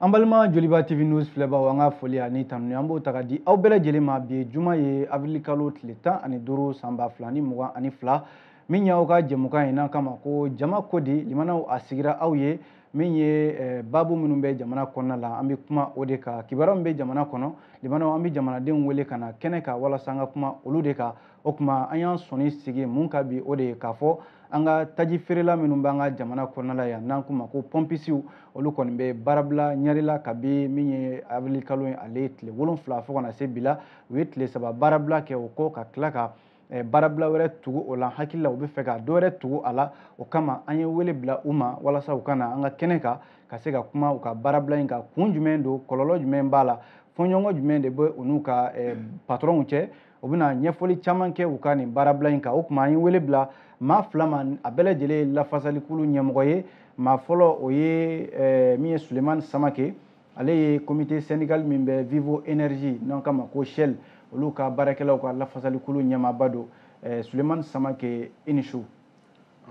an balima joliba tv news filɛbaw an ka foli ani tanuni an b'o ta ka di aw bɛɛ lajɛlen ma bi juma ye avril kalo tile tan ani duuru san ba fila ni mugan ani fila min y'aw ka jɛmukan in n'an k'a ma ko jama ko di limanaw a sigira aw ye min ye eh, babu minnu bɛ jamana kɔnɔna la an bɛ kuma o de kan kibaruya min bɛ jamana kɔnɔ limanaw an bɛ jamanadenw wele ka na kɛnɛ kan walasa an ka kuma olu de kan o kuma an y'an sɔnin sigi mun kan bi o de ye k'a fɔ an ka taji feerela minnu b'an ka jamana kɔnɔna la yan n'an k'u ma ko pɔnpisiw olu kɔni bɛ baarabila ɲari la kabi min ye awirili kalo ye ale ye tile wolonfila fo ka na se bi la u ye tile saba baarabila kɛ o kɔ ka tila ka eh, baarabila wɛrɛ tugu o la hakili la u bɛ fɛ ka dɔ wɛrɛ tugu a la o kama an ye wele bila u ma walasa u ka na an ka kɛnɛ kan ka se ka kuma u ka baarabila in kan kun jumɛn don kɔlɔlɔ jumɛn b'a la fɔɲɔgɔnkɔ jumɛn de bɛ u n'u ka eh, patɔrɔnw cɛ u bɛna ɲɛfɔli caman kɛ u ka nin baarabila in kan o kuma an ye wele bila maa fila ma a bɛɛ lajɛlen ye lafasalikulu ɲɛmɔgɔ ye maa fɔlɔ o ye eh, min ye sulemani samake ale ye comité syndical min bɛ vivo énergie n'an k'a ma ko shell olu ka baarakɛlaw ka lafasalikulu ɲɛmaaba don eh, sulemani samake i ni su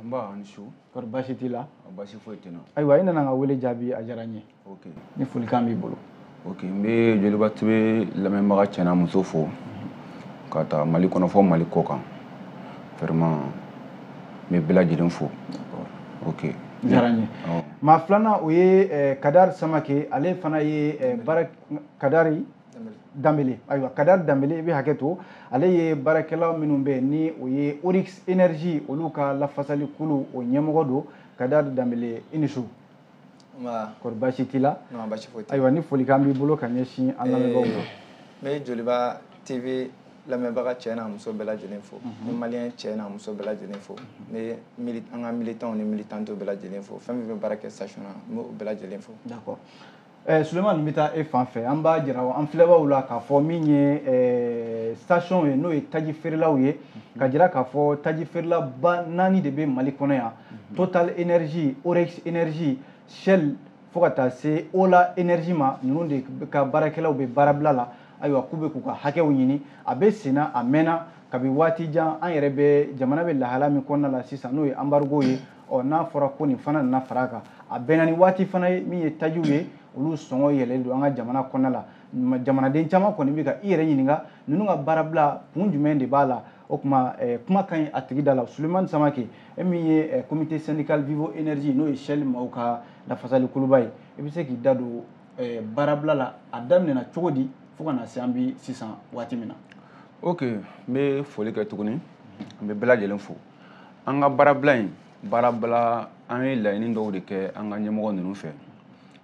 nba a ni su kɔri baasi t'i la baasi foyi tɛ n na ayiwa i nana an ka wele jaabi a diyara n ye ni folikan b'i bolo ok n bɛ joliba tv lamɛnbaga cɛ n'a muso fo ka taa mali kɔnɔ fo mali kɔkan vraiment n bɛ bɛɛ lajɛlen fo ok a diyara n ye maa filanan o ye eh, kadari samake ale fana ye eh, baara kadari danbele ayiwa kadari danbele i bɛ hakɛ to ale ye baarakɛla minnu bɛ ni o ye oryx énergie olu ka lafasalikulu o ɲɛmɔgɔ don kadari danbele i ni su kɔri baasi t'i la ayiwa ni folikan b'i bolo ka ɲɛsin an lamɛnbaaw ma n bɛ joliba tv lamɛnbaga cɛ n'a muso bɛɛ lajɛlen fo n bɛ maliyɛn cɛ n'a muso bɛɛ lajɛlen fo n bɛ an ka militanw ni militantiw bɛɛ lajɛlen fo fɛn min bɛ baara kɛ station na n bɛ o bɛɛ lajɛlen fo d'accord Eh, Suleman n bɛ taa e fan fɛ an b'a jira an filɛbaaw la k'a fɔ min ye eh, station ye n'o ye taji feerelaw ye ka jira k'a fɔ taji feerelaba naani de bɛ Mali kɔnɔ yan Total Énergie Oryx Énergie Shell fo ka taa se Ola Énergie ma ninnu de ka baarakɛlaw bɛ baarabila la ayiwa k'u bɛ k'u ka hakɛw ɲini a bɛ senna a mɛnna kabi waati jan an yɛrɛ bɛ jamana bɛ lahala min kɔnɔna la sisan n'o ye embargo ye ɔ n'a fɔra ko nin fana nana fara a kan a bɛnna ni waati fana ye min ye tajiw ye olu sɔngɔ yɛlɛlen don an ka jamana kɔnɔna la jamanaden caman kɔni bɛ ka i yɛrɛ ɲininka ninnu ka baarabila kun jumɛn de b'a la o kuma kuma ka ɲi a tigi da la sulemani samake e min ye comité syndical vivo énergie n'o ye shell maaw ka lafasalikuluba ye i bɛ se k'i da don baarabila la a daminɛna cogo di fo ka na se an bɛ sisan waati min na ok n bɛ foli kɛ tuguni n bɛ bɛɛ lajɛlen fo an ka baarabila in baarabila an ye laɲini dɔw de kɛ an ka ɲɛmɔgɔ ninnu fɛ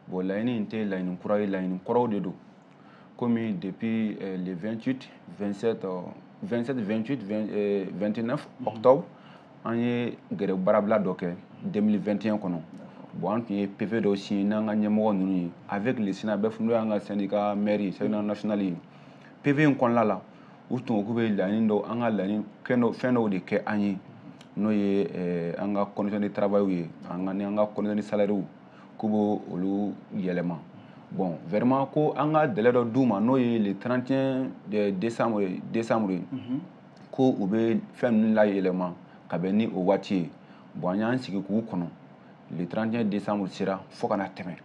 bon laɲini in tɛ laɲini kura ye laɲini kɔrɔw de don komi depuis eh, le 28 27 27 28 29 octobre an ye grève baarabila dɔ kɛ 2021 kɔnɔ bon an tun ye pv dɔw signé n'an ka ɲɛmɔgɔ ninnu ye avec le synabef n'o y'an ka syndicat mère ye syndicat national ye pv in kɔnɔna la u tun ko k'u bɛ laɲini dɔw an ka laɲini fɛn dɔw de kɛ an ye n'o ye eh, an ka condition de travail ye an ka ni an ka condition de salaire k'u b'o olu yɛlɛma bon vraiment ko an ka délai dɔ d'u ma n'o ye le 31 eh, décembre décembre ye mhm. ko u bɛ fɛn ninnu layɛlɛma ka bɛn ni o waati ye bon an y'an sigi k'u kɔnɔ le 31 décembre sera fo ka na tɛmɛ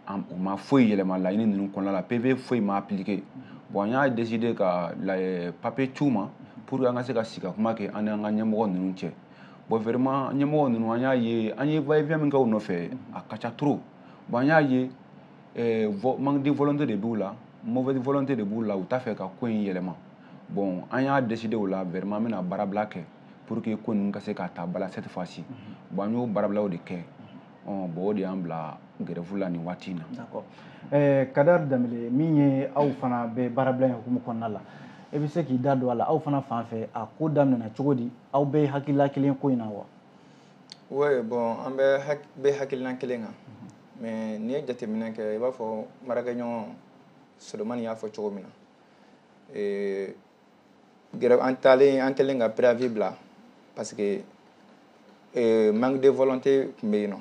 u ma foyi yɛlɛma laɲini ninnu kɔnɔna la pv foyi ma appliqué bon an y'a décidé ka papier ci u ma pour que an ka se ka sigi ka kuma kɛ an n'an ka ɲɛmɔgɔ ninnu cɛ bon vraiment ɲɛmɔgɔ ninnu an y'a ye an ye va et vient min kɛ u nɔfɛ a ka ca trop bon an y'a ye eh, manque de volonté de b'u la mauvaise volonté de b'u la u t'a fɛ ka ko in yɛlɛma bon an y'a décidé o la vraiment an bɛna baarabila kɛ pour que ko ninnu ka se ka ta ba la cette fois ci bon an y'o baarabilaw de kɛ bon o de y'an bila grève la nin waati in na. D'accord ɛɛ Kadari Danbele min ye aw fana bɛ baarabila in hukumu kɔnɔna la e bɛ se k'i da don a la aw fana fan fɛ a ko daminɛna cogo di aw bɛɛ ye hakilila kelen ko in na wa. Oui bon an bɛɛ bɛ hakilina kelen kan mais n'i ye jateminɛ kɛ i b'a fɔ n baarakɛɲɔgɔn Solomani y'a fɔ cogo min na ee an taalen an kɛlen ka préavis bila parce que euh, manque de volonté tun bɛ yen nɔ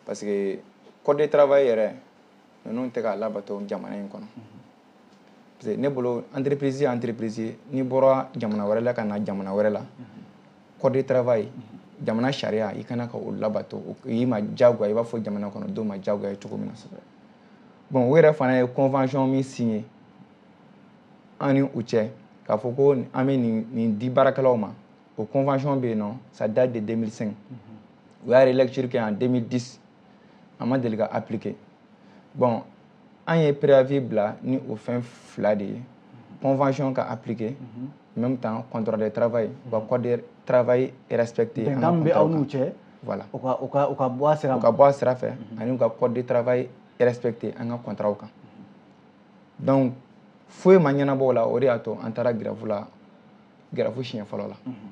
parce que code de travail yɛrɛ ninnu tɛ ka labato jamana in kɔnɔ parce que ne bolo entreprise ye entreprise ye n'i bɔra jamana wɛrɛ la ka na jamana wɛrɛ la code de travail jamana sariya i ka kan ka o labato o y'i ma diyagoya i b'a fɔ jamana kɔnɔ denw ma diyagoya ye cogo min na bon u yɛrɛ fana ye convention min signé an ni u cɛ k'a fɔ ko an bɛ nin di baarakɛlaw ma o convention bɛ yen nɔ ça date de 2005 mhm. u y'a relecture kɛ en 2010 a ma deli ka appliquer bon an ye préavis bila ni o fɛn fila de ye mhm. convention ka appliquer mhm. en même temps contrat de travail u ka code de travail respecté bɛnkan bɛ aw n'u cɛ voilà u ka u ka u ka bɔ a sira u ka bɔ a sira fɛ ani u ka code de travail respecté an ka contrat kan donc foyi ma ɲɛnabɔ o la o de y'a to an taara gɛrɛfu la gɛrɛfu siɲɛ fɔlɔ la mhm.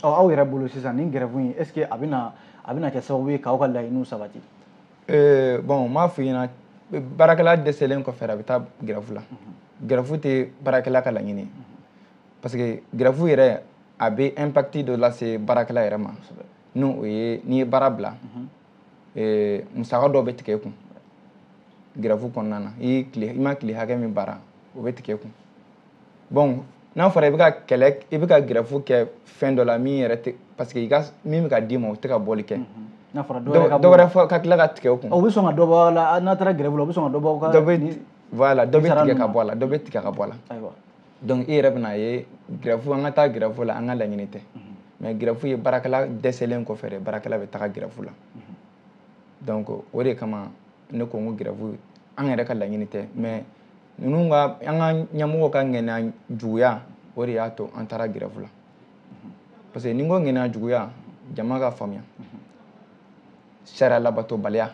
ɔ aw yɛrɛ bolo sisan nin gɛrɛfu in est ce que a bɛna a bɛna kɛ sababu ye k'aw ka laɲiniw sabati eh, bon n b'a f'i ɲɛna baarakɛla dɛsɛlen kɔfɛ a bɛ taa gɛrɛfu la mhm. gɛrɛfu tɛ baarakɛla ka laɲini mhm. parce que gɛrɛfu yɛrɛ a bɛ impact dɔ lase baarakɛla yɛrɛ ma n'o ye n'i ye baara bila musaka dɔ bɛ tigɛ i kun gɛrɛfu kɔnɔna na i tile i ma tile hakɛ min baara o bɛ tigɛ i kun bon n'a fɔra i bɛ ka kɛlɛ i bɛ ka gɛrɛfu kɛ fɛn dɔ la min yɛrɛ tɛ parce que i ka min bɛ ka d'i ma o tɛ ka bɔli kɛ n'a fɔra dɔ wɛrɛ fɔ ka tila ka tigɛ o kun o bɛ sɔn ka dɔ bɔ a la n'a taara gɛrɛfu la o bɛ sɔn ka dɔ bɔ ka dɔ bɛ voilà dɔ bɛ tigɛ ka bɔ a la dɔ bɛ tigɛ ka bɔ a la ayiwa donc i yɛrɛ bɛna a ye gɛrɛfu an ka taa gɛrɛfu la an ka laɲini tɛ mais gɛrɛfu ye baarakɛla dɛsɛlen kɔfɛ de baarakɛla bɛ taga gɛrɛfu la donc o de kama ne ko n ko gɛrɛfu an yɛrɛ ka laɲini tɛ mais ninnu ka an ka ɲɛmɔgɔw ka ŋaniya juguya o de y'a to an taara gɛrɛfu la parce que ni n ko ŋaniya juguya jama k'a faamuya sariya labatobaliya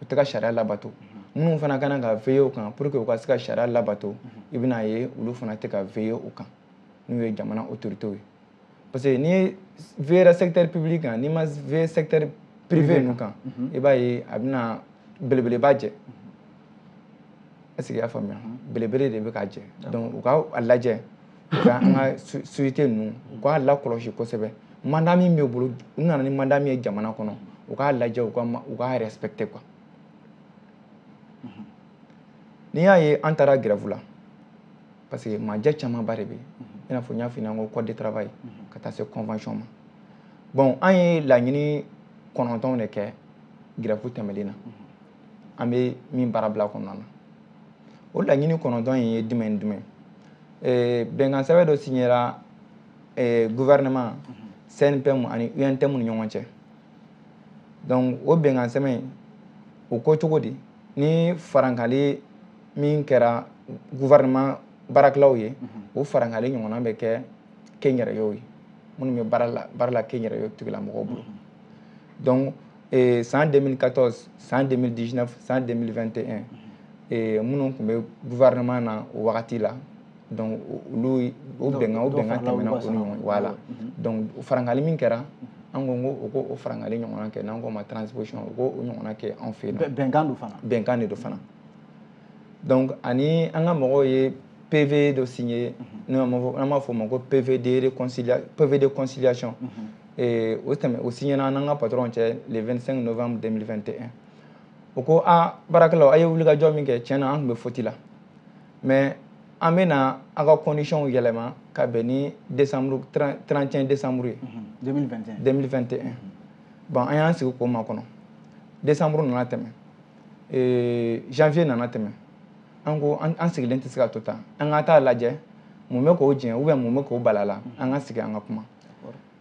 u tɛ ka sariya labato minnu fana ka kan ka veiller o kan pour que u ka se ka sariya labato i bɛna ye olu fana tɛ ka veiller o kan n'o ye jamana autorités ye parce que n'i veillera secteur public kan n'i ma veiller secteur privé ninnu kan i b'a ye a bɛna belebeleba jɛ est ce que i y'a faamuya belebele de bɛ ka jɛ donc u ka a lajɛ u ka an ka société ninnu u k'a lakɔlɔsi kosɛbɛ mandat min bɛ u bolo u nana ni mandat min ye jamana kɔnɔ u k'a lajɛ u ka u k'a respecter quoi n'i y'a ye an taara grève la parce que majɛ camanba de bɛ yen i n'a fɔ n y'a f'i ɲɛna ko code de travail ka taa se convention ma bon an ye laɲini kɔnɔntɔnw de kɛ grève tɛmɛnen na an bɛ min baara bila kɔnɔna na o laɲini kɔnɔntɔn in ye jumɛn ni jumɛn ye bɛnkan sɛbɛn dɔ signera gouvernement CNPM ani UNTM u ni ɲɔgɔn cɛ donc o bɛnkan sɛbɛn in o ko cogo di ni farankali min kɛra gouvernement baarakɛlaw ye o farankali ɲɔgɔnna bɛ kɛ kɛnyɛrɛyew ye minnu bɛ baara la baara la kɛnyɛrɛyew tigilamɔgɔw bolo donc eh, san 2014 san 2019 san 2021 eh, minnu tun bɛ gouvernement na o wagati la donc olu o bɛnkan o bɛnkan tɛmɛna u ni ɲɔgɔn voilà mhm. donc farankali min kɛra an ko n ko u k'o farankali ɲɔgɔnna kɛ n'an k'o ma transposition u k'o ɲɔgɔnna kɛ anw fɛ yen nɔ bɛnkan don fana bɛnkan de don fana donc ani an ka mɔgɔw ye PV dɔ signé mhm. n'an b'a fɔ o ma ko PV de réconciliation PV de conciliation mhm. ee, o tɛmɛ o signéna an n'an ka patron cɛ le 25 novembre 2021 o ko a baarakɛlaw a ye wulikajɔ min kɛ tiɲɛ na an tun bɛ faute la mais an bɛna a ka conditionw yɛlɛma ka bɛn ni 31 décembre ye 2021 bon an y'an sigi k'o makɔnɔ décembre nana tɛmɛ ee, janvier nana tɛmɛ an ko an sigilen tɛ se ka to tan an ka taa lajɛ mun bɛ k'o jɛn ou bien mun bɛ k'o balala an ka sigi an ka kuma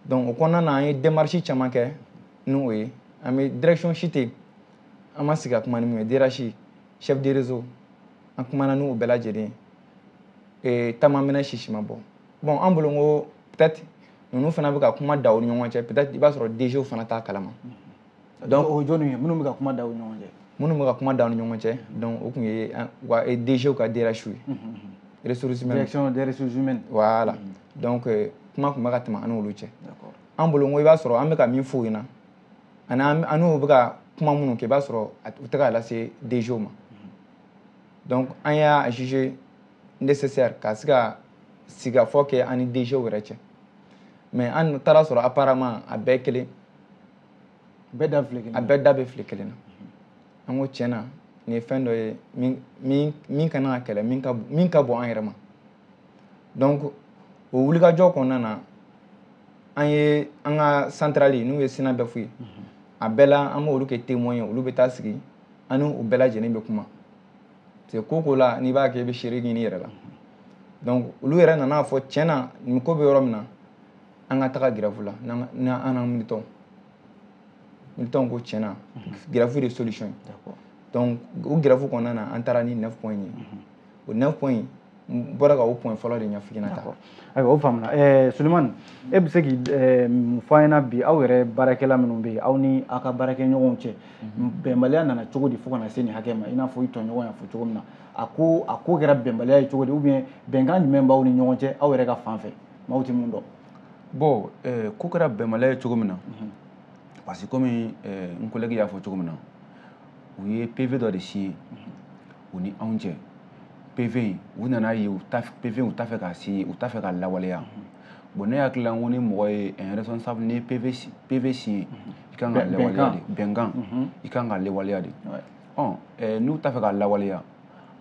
donc o kɔnɔna na an ye démarche caman kɛ ni o ye an bɛ direction si tɛ an ma sigi ka kuma ni min ye DRH chef de réseau an kumana n'u bɛɛ lajɛlen ye ta ma mɛnɛ sisi ma bɔ bon an bolo n ko peut-être ninnu fana bɛ ka kuma da u ni ɲɔgɔn cɛ peut-être i b'a sɔrɔ DG fana t'a kalama. donc o jɔni ye minnu bɛ ka kuma da u ɲɔgɔn cɛ minnu bɛ ka kuma da u ni ɲɔgɔn cɛ donc o tun ye wa DG ka DRH ye ressources humaines direction des ressources humaines voilà donc kuma tun bɛ ka tɛmɛ an n'olu cɛ an bolo n ko i b'a sɔrɔ an bɛ ka min f'u ɲɛna ani an n'u bɛ ka kuma minnu kɛ i b'a sɔrɔ u tɛ ka lase DG ma donc an y'a juger nécessaire ka se ka sigikafɔ kɛ an ni DG yɛrɛ cɛ mais an taara a sɔrɔ apparemment a bɛɛ kelen bɛɛ da file kelen a bɛɛ da bɛ file kelen na an ko tiɲɛna nin ye fɛn dɔ ye min min min ka kan ka kɛlɛ min ka min ka bon an yɛrɛ ma donc o wulikajɔ kɔnɔna na an ye an ka centrale n'o ye SYNABEF ye a bɛɛ la an b'olu kɛ témoin ye olu bɛ taa sigi an n'u bɛɛ lajɛlen bɛ kuma parce que ko la n'i b'a kɛ i bɛ seere ɲini i yɛrɛ la donc olu yɛrɛ nana a fɔ tiɲɛna nin ko bɛ yɔrɔ min na an ka taga grève la n'an an militant militant ko tiɲɛna grève de solution ye donc o grève kɔnɔna na an taara ni 9 point ye o 9 point n bɔra ka o point fɔlɔ de ɲɛf'i ɲɛna tan ayiwa o faamuna eh, sulemani e bɛ se k'i eh, mun fɔ an ɲɛna bi aw yɛrɛ baarakɛla minnu bɛ yen aw ni aw ka baarakɛɲɔgɔnw cɛ mhm. bɛnbaliya nana cogo di fo ka na se nin hakɛ ma i n'a fɔ i tɔɲɔgɔn y'a fɔ cogo min na a ko a ko kɛra bɛnbaliya ye cogo di ou bien bɛnkan jumɛn b'aw ni ɲɔgɔn cɛ aw yɛrɛ ka fan fɛ maaw tɛ min dɔn bon eh, ko kɛra bɛnbaliya ye cogo min na mhm. parce que komi eh, n collègue y'a fɔ cogo min na u ye PV dɔ de signé mhm. u ni anw cɛ PV in u nana ye PV u t'a fɛ k'a signé u t'a fɛ k'a lawaleya mhm. bon ne hakili la n ko ni mɔgɔ ye un responsable ni PV PV signé i kan k'a lawaleya de bɛnkan i kan k'a lawaleya de ɔ n'u t'a fɛ k'a lawaleya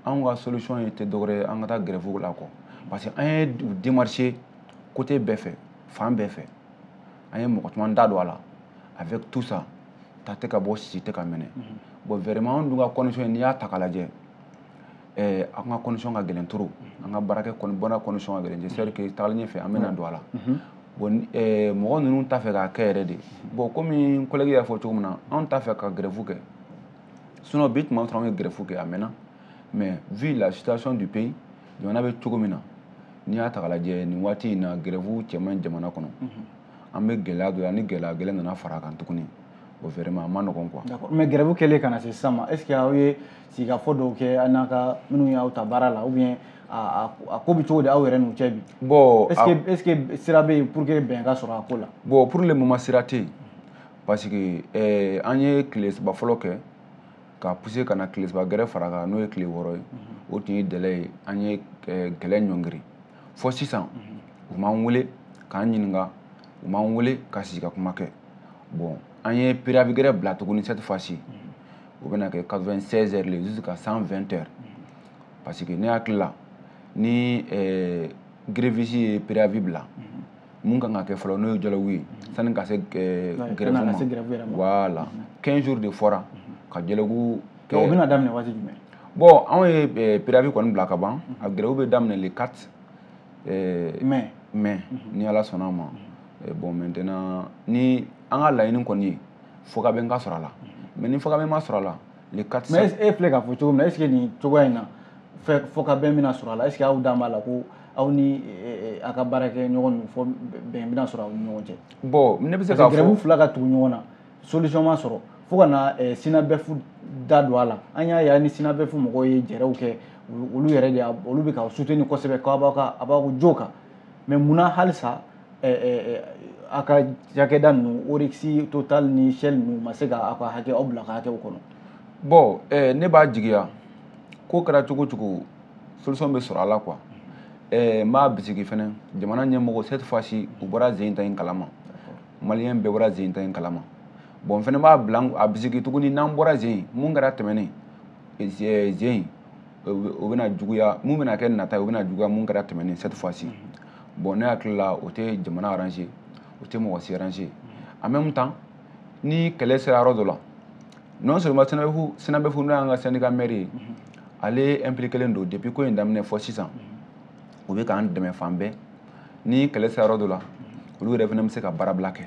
anw ka solution ye tɛ dɔwɛrɛ ye an ka taa grève la kɔ parce que an ye démarché côté bɛɛ fɛ fan bɛɛ fɛ an ye mɔgɔ caman da don a la avec tout ça ta tɛ ka bɔ sisi tɛ ka minɛ mhm. bon vraiment anw dun ka condition n'i y'a ta k'a lajɛ eh, an ka condition ka gɛlɛn trop mhm. an ka baarakɛ bɔnna condition ka gɛlɛn j'espère que tagalen ɲɛfɛ an bɛna don a la mhm. bon eh, mɔgɔ ninnu t'a fɛ k'a kɛ yɛrɛ de bon komi n collègue y'a fɔ cogo min na anw t'a fɛ ka grève kɛ sinon bi tuma sɔrɔ an ye grève kɛ a mɛnna mais vu la situation du pays jamana bɛ cogo min na n'i y'a ta k'a lajɛ nin waati in na grève cɛ man ɲi jamana kɔnɔ an bɛ gɛlɛya dɔ la ni gɛlɛya gɛrɛ nana fara a kan tuguni bon vraiment a ma nɔgɔn quoi. d'accord mais grève kɛlen ka na se sisan ma est ce que aw ye sigikafɔ dɔw kɛ aw n'a ka minnu y'aw ta baara la ou bien a ko bɛ cogo di aw yɛrɛ n'u cɛ bi. bon est ce que est ce que sira bɛ yen pour que bɛn ka sɔrɔ a ko la. bon pour le moment sira tɛ yen. parce que eh, an ye tile saba fɔlɔ kɛ ka pousser ka na tile saba gɛrɛ fara kan n'o ye tile wɔɔrɔ ye mhm. o tun ye délai ye an ye eh, kɛlɛ ɲɔngiri fɔ sisan mhm. u m'an wele k'an ɲininka u m'an wele ka sigi ka kuma kɛ bon an ye préavis gɛrɛ bila tuguni cette fois ci mhm. o bɛna kɛ 96 heures le jusqu'à 120 heures parce que ne hakili la ni eh, gréviste ye préavis bila mun kan ka kɛ fɔlɔ n'o ye dialogue ye sani ka se grève ma voilà 15 jours de fɔra ka dialogue kɛ o bɛna daminɛ waati jumɛn bon anw ye préavis kɔni bila ka ban a grève bɛ daminɛ le 4 mai mai ni ala sɔnna a ma bon maintenant ni an ka laɲini kɔni ye fɔkabɛn ka sɔrɔ a la mais ni fɔkabɛn ma sɔrɔ a la le 4 mais e filɛ k'a fɔ cogo min na est ce que nin cogoya in na fɔkabɛn bɛna sɔrɔ a la est ce que aw dan b'a la ko aw ni eh, eh, a ka baarakɛɲɔgɔn ninnu fɔ bɛn bɛna sɔrɔ aw ni ɲɔgɔn cɛ bon ne bɛ se k'a fɔ grève fila ka tugu ɲɔgɔn na solution ma sɔrɔ fo ka na eh, SYNABEF da don a la an y'a ye a ni SYNABEF mɔgɔw ye jɛrɛw kɛ olu yɛrɛ de olu bɛ k'aw soutenir kosɛbɛ k'aw b'aw ka a b'aw jo kan mais mun na halisa aw ka cakɛda ninnu oryx total ni shell ninnu ma se ka aw ka hakɛ aw bila ka hakɛw kɔnɔ bon ne b'a jigiya ko kɛra cogo o cogo solution bɛ sɔrɔ a la quoi n b'a bisigi fɛnɛ jamana ɲɛmɔgɔ cette fois ci u bɔra zen ta in kalama maliyɛn bɛɛ bɔra zen ta in kalama bon n fɛnɛ b'a bila a bisigi tuguni n'an bɔra zen mun kɛra tɛmɛnen zen o bɛna juguya mun bɛna kɛ nata ye o bɛna juguya mun kɛra tɛmɛnen cette fois ci bon ne hakili la o tɛ jamana arranger o tɛ mɔgɔ si arranger en même temps ni kɛlɛ sera yɔrɔ dɔ la non seulement SYNABEF SYNABEF n'o y'an ka syndicat mère ye ale impliqué len don depuis ko in daminɛ fɔ sisan u bɛ k'an dɛmɛ fan bɛɛ ni kɛlɛ sera yɔrɔ dɔ la olu yɛrɛ fana bɛ se ka baarabila kɛ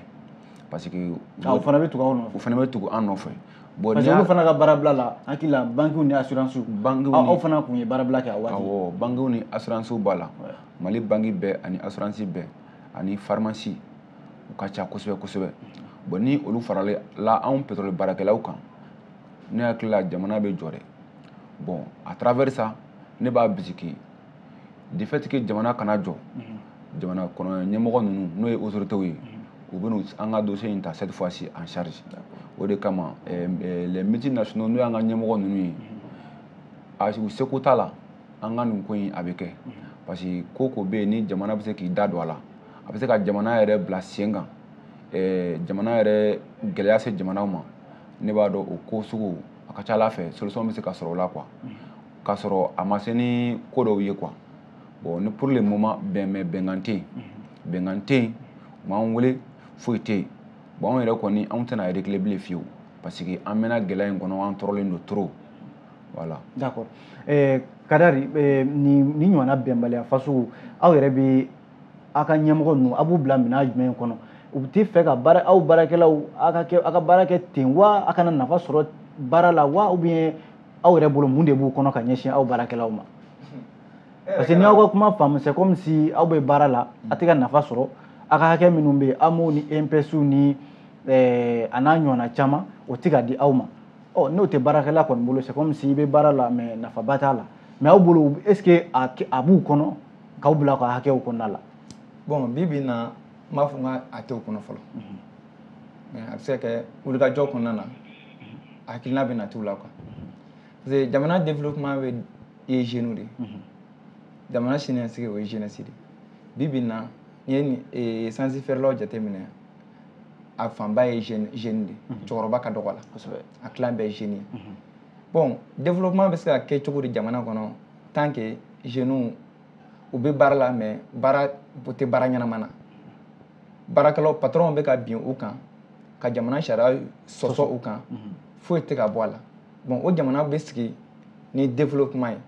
parce que ah, u fana bɛ tugu anw nɔfɛ u fana bɛ tugu an nɔfɛ bon parce que olu fana ka baarabila la hakili la bankiw ni assurance bankiw ni aw fana tun ye baarabila kɛ a waati awɔ bankiw ni assurance b'a la mali banki bɛɛ ani assurance bɛɛ ani pharmacie u ka ca kosɛbɛ kosɛbɛ bon ni olu farala anw pétrole baarakɛlaw kan ne hakili la jamana bɛ jɔ dɛ bon à travers ça ne b'a bisigi de fait que jamana kana jɔ jamana kɔnɔ ɲɛmɔgɔ ninnu n'o ye autorités ye u bɛna an ka dossier in ta cette fois ci en charge o de kama eh, eh, les multinationaux n'o y'an ka ɲɛmɔgɔ ninnu ye a u seko t'a la an ka nin ko in a bɛ kɛ parce que ko o ko bɛ yen ni jamana bɛ se k'i da don a la a bɛ se ka jamana yɛrɛ bila sen kan eh, jamana yɛrɛ gɛlɛya se jamanaw ma ne b'a dɔn o ko sugu a ka c'a la a fɛ solution bɛ se ka sɔrɔ o la quoi k'a sɔrɔ a ma se ni ko dɔw ye quoi bon ni pour le moment bɛn bɛ bɛnkan tɛ yen bɛnkan tɛ yen u m'an wele foyi tɛ yen bon anw yɛrɛ kɔni anw tɛna reculer bilen fiyewu parce que an mɛnna gɛlɛya in kɔnɔ an tɔɔrɔlen don trop voilà. d'accord eh, kadari eh, ni nin ɲɔgɔnna bɛnbaliya fasugu aw yɛrɛ bɛ aw ka ɲɛmɔgɔ ninnu aw b'u bila minɛn jumɛn kɔnɔ u tɛ fɛ ka baara aw baarakɛlaw aw ka kɛ aw ka baara kɛ ten wa aw kana nafa sɔrɔ baara la wa ou bien aw yɛrɛ bolo mun de b'u kɔnɔ ka ɲɛsin aw baarakɛlaw ma parce que n y'aw ka kuma faamu c'est comme si aw bɛ baara la a tɛ ka nafa sɔrɔ aw ka hakɛ minnu bɛ yen AMO ni INPS ni eh, a n'a ɲɔgɔnna caman o tɛ ka di aw ma ɔ n'o tɛ baarakɛla kɔni bolo c'est comme si i bɛ baara la mais nafaba t'a la mais aw bolo est ce que a kɛ- a b'u kɔnɔ k'aw bila aw ka hakɛw kɔnɔna la bon bi bi in na n b'a fɔ n k'a tɛ u kɔnɔ fɔlɔ mais a bɛ se ka kɛ wulikajɔ kɔnɔna na hakilina bɛ na t'u la quoi parce que jamana développement bɛɛ ye jeunes de ye mhm. jamana siniɲɛsigi o ye jeunesse de bi bi in na n'i ye nin eh, sansi feerelaw jateminɛ a fanba ye jeune jeune de mhm. cɛkɔrɔba ka dɔgɔ a la kosɛbɛ a tilan bɛɛ ye jeune ye mhm. bon développement bɛ se ka kɛ cogo di jamana kɔnɔ tant que jeunes u bɛ baara la mais baara u tɛ baara ɲɛnama na baarakɛlaw patɔrɔnw bɛ ka bin u kan ka jamana sariya sɔsɔ u kan mhm. foyi tɛ ka bɔ a la bon o jamana bɛ sigi ni développement ye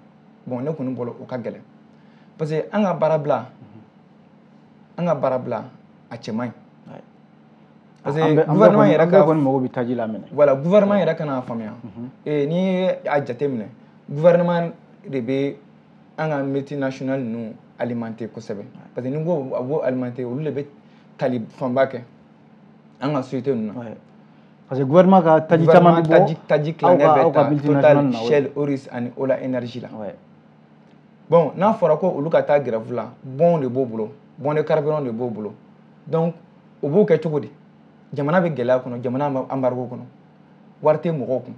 bon ne kɔni bolo o ka gɛlɛn parce que an ka baarabila mhm. an ka baarabila a cɛ man ɲi parce que gouvernement yɛrɛ ka kɔni mago bɛ taji la minɛ voilà gouvernement yɛrɛ ka n'a faamuya mhm. eh, n'i ye a jateminɛ gouvernement de bɛ an ka multinational ninnu alimenter kosɛbɛ parce que ni ko a b'o alimenter olu de bɛ tali fanba kɛ an ka société ninnu na parce que gouvernement ka taji caman bɛ bɔ taji tilancɛ bɛ ta total shell oryx ani ola energy la bon n'a fɔra ko olu ka taa grève la bonw de b'o bolo bon de carburant de b'o bolo donc u b'o kɛ cogo di jamana bɛ gɛlɛya kɔnɔ jamana embargo kɔnɔ wari tɛ mɔgɔw kun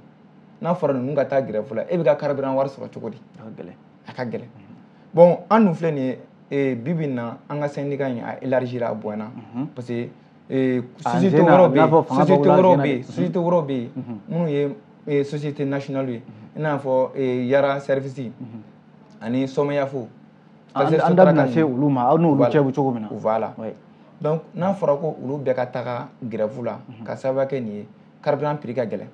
n'a fɔra ninnu ka taa grève la e bɛ ka carburant wari sɔrɔ cogo di a ka gɛlɛn bon an dun filɛ nin ye bi bi na an ka syndicat in a élargira a bonyana mhm. parce que eh, société wɛrɛw bɛ yen société wɛrɛw bɛ yen société wɛrɛw bɛ yen mhm. minnu ye eh, société nationale ye mhm. i n'a fɔ eh, yara service ani somayaf an da bɛna se olu ma aw n'olu cɛ bɛ cogo min na voilà donc n'a fɔra ko olu bɛɛ ka taga grève la mhm. k'a sababu kɛ nin ye carburant prix ka gɛlɛn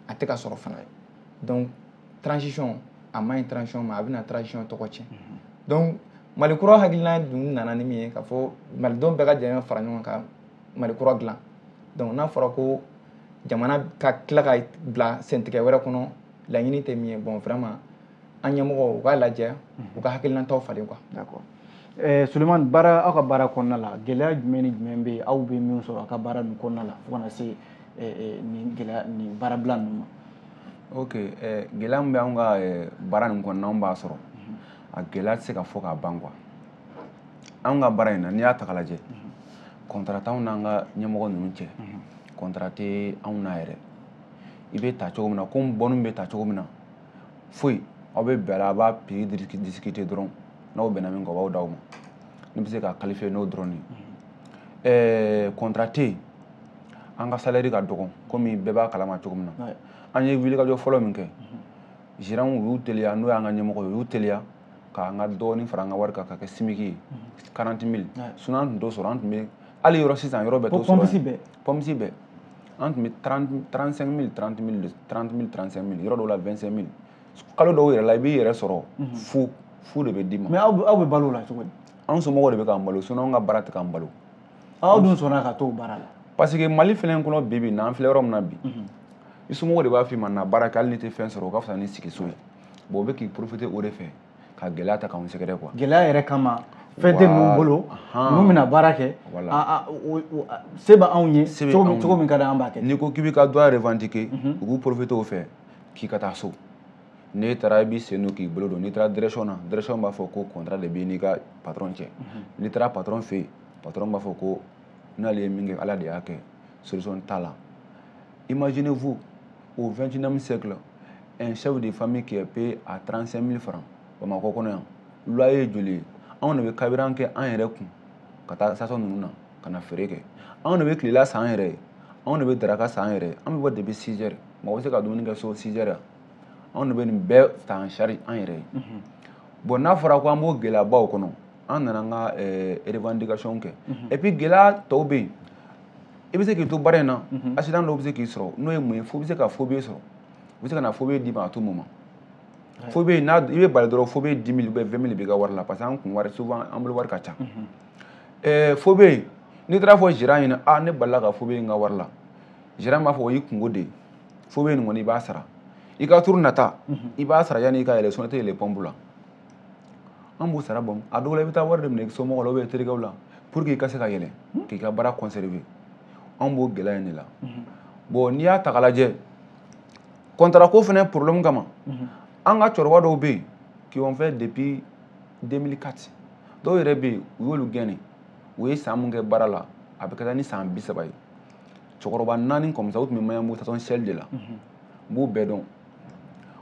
a tɛ ka sɔrɔ fana donc transition a man ɲi transition ma a bɛna transition tɔgɔ tiɲɛ mhm. donc mali kura hakilina dun nana ni min ye k'a fɔ malidenw bɛɛ ka jɛ fara ɲɔgɔn kan mali kura dilan donc n'a fɔra ko jamana ka tila ka bila sentigɛ wɛrɛ kɔnɔ laɲini tɛ min ye bon vraiment an ɲɛmɔgɔw u k'a lajɛ u ka hakilinataw falen quoi Eh, Sulemani baara aw ka baara kɔnɔna la gɛlɛya jumɛn ni jumɛn bɛ yen aw bɛ min sɔrɔ aw ka baara ninnu kɔnɔna la fo ka na se eh, eh, nin gɛlɛya nin baarabila ninnu ma. ok gɛlɛya min bɛ anw ka baara nin kɔnɔna anw b'a sɔrɔ a gɛlɛya tɛ se ka fɔ ka ban quoi anw ka baara in na n'i y'a ta k'a lajɛ contrat t'anw n'an ka ɲɛmɔgɔ ninnu cɛ contrat tɛ anw na yɛrɛ i bɛ ta cogo min na komi bɔnni bɛ ta cogo min na foyi aw bɛ bɛn a la a b'a prix discuter dɔrɔn n'aw bɛnna min kan o b'a d'aw ma ne bɛ se k'a qualifier n'o dɔrɔn de ye contrat tɛ yen an ka salaire ka dɔgɔ komi bɛɛ b'a kalama cogo min na an ye wulikajɔ fɔlɔ min kɛ gérantw u y'u teliya n'o y'an ka ɲɛmɔgɔ ye u y'u teliya k'an ka dɔɔni fara an ka wari kan k'a kɛ SMIG ye quarante mille sinon an tun t'o sɔrɔ an tun bɛ hali yɔrɔ sisan yɔrɔ bɛɛ t'o sɔrɔ pompiste bɛɛ pompiste bɛɛ an tun bɛ 35 mil 30 mil 30 mil 35 mil yɔrɔ dɔw la 25 mil kalo dɔw yɛrɛ la i b'i yɛrɛ sɔrɔ mhm. fu fu de bɛ d'i ma. mais aw aw bɛ balo o la cogo di. an somɔgɔw de bɛ k'an balo sinon an ka baara tɛ k'an balo. aw dun sɔnna ka t'o baara la. parce que mali fɛnɛ kɔnɔ bi bi na an filɛ yɔrɔ min na bi. Mhm. i somɔgɔw de b'a f'i ma na baara kɛ hali n'i tɛ fɛn sɔrɔ o ka fisa ni sigi so ye bon o bɛ k'i profiter o de fɛ. ka gɛlɛya ta k'anw sɛgɛrɛ quoi gɛlɛya yɛrɛ kama fɛn tɛ ninnu bolo ninnu bɛna baara kɛ se bɛ anw ye cogo min ka di an b'a kɛ n'i ko k'i b'i ka droit revendiquer mhm. u b'u profiter o fɛ k'i ka taa so n'e taara i b'i sen don k'i bolo don n'i taara direction na direction b'a fɔ ko contrat de b'i n'i ka patron cɛ mhm. n'i taara patron fɛ yen patron b'a fɔ ko n'ale ye min kɛ ala de y'a kɛ solution t'a la Imaginez vous au 21e siècle un chef de famille qui est payé à 35 000 francs Bamakɔ kɔnɔ yan loyer ye joli ye anw de bɛ carburant kɛ an yɛrɛ kun ka taa station ninnu na ka na feere kɛ anw de bɛ tilela san an yɛrɛ ye anw de bɛ daraka san yɛrɛ ye an bɛ bɔ depuis 6 heures mɔgɔ bɛ se ka dumuni kɛ so 6 heures anw de bɛ nin bɛɛ ta en charge an yɛrɛ ye mhm. bon n'a fɔra ko an b'o gɛlɛyabaw kɔnɔ an nana an ka eh, revendication kɛ mhm. et puis gɛlɛya tɔw bɛ yen i bɛ se k'i to baara in na accident dɔw bɛ se k'i sɔrɔ n'o ye mun ye fo i bɛ se ka faux billet sɔrɔ u bɛ se ka na faux billet d'i ma à tout moment faux billet n'a i bɛ bali dɔrɔn faux billet 10 000 ou bien 20 000 b'i ka wari la parce que an kun wari souvent an bolo wari ka ca ɛɛ faux billet n'i taara fɔ gérant ɲɛna a ne balila ka faux billet n ka wari la gérant b'a fɔ o y'i kunko de ye faux billet nin kɔni i b'a sara i ka tour nata i b'a sara yanni i ka yɛlɛ sinon i tɛ yɛlɛ pompe la an b'u sara bon a dɔw la i bɛ taa wari de minɛ somɔgɔw la ou bien terikɛw la pour que i ka se ka yɛlɛ hmm? k'i ka baara conserver an b'o gɛlɛya in de la hmm. bon n'i y'a ta k'a lajɛ contrat ko fɛnɛ problème kama hmm. an ka cɛkɔrɔba dɔw bɛ yen qui ont fait depuis 2004 dɔw yɛrɛ bɛ yen u y'olu gɛn ni u ye san mun kɛ baara la a bɛ ka taa ni san bi saba ye cɛkɔrɔba naani comme ça u tun bɛ maɲanbugu station shell de la n b'u bɛɛ dɔn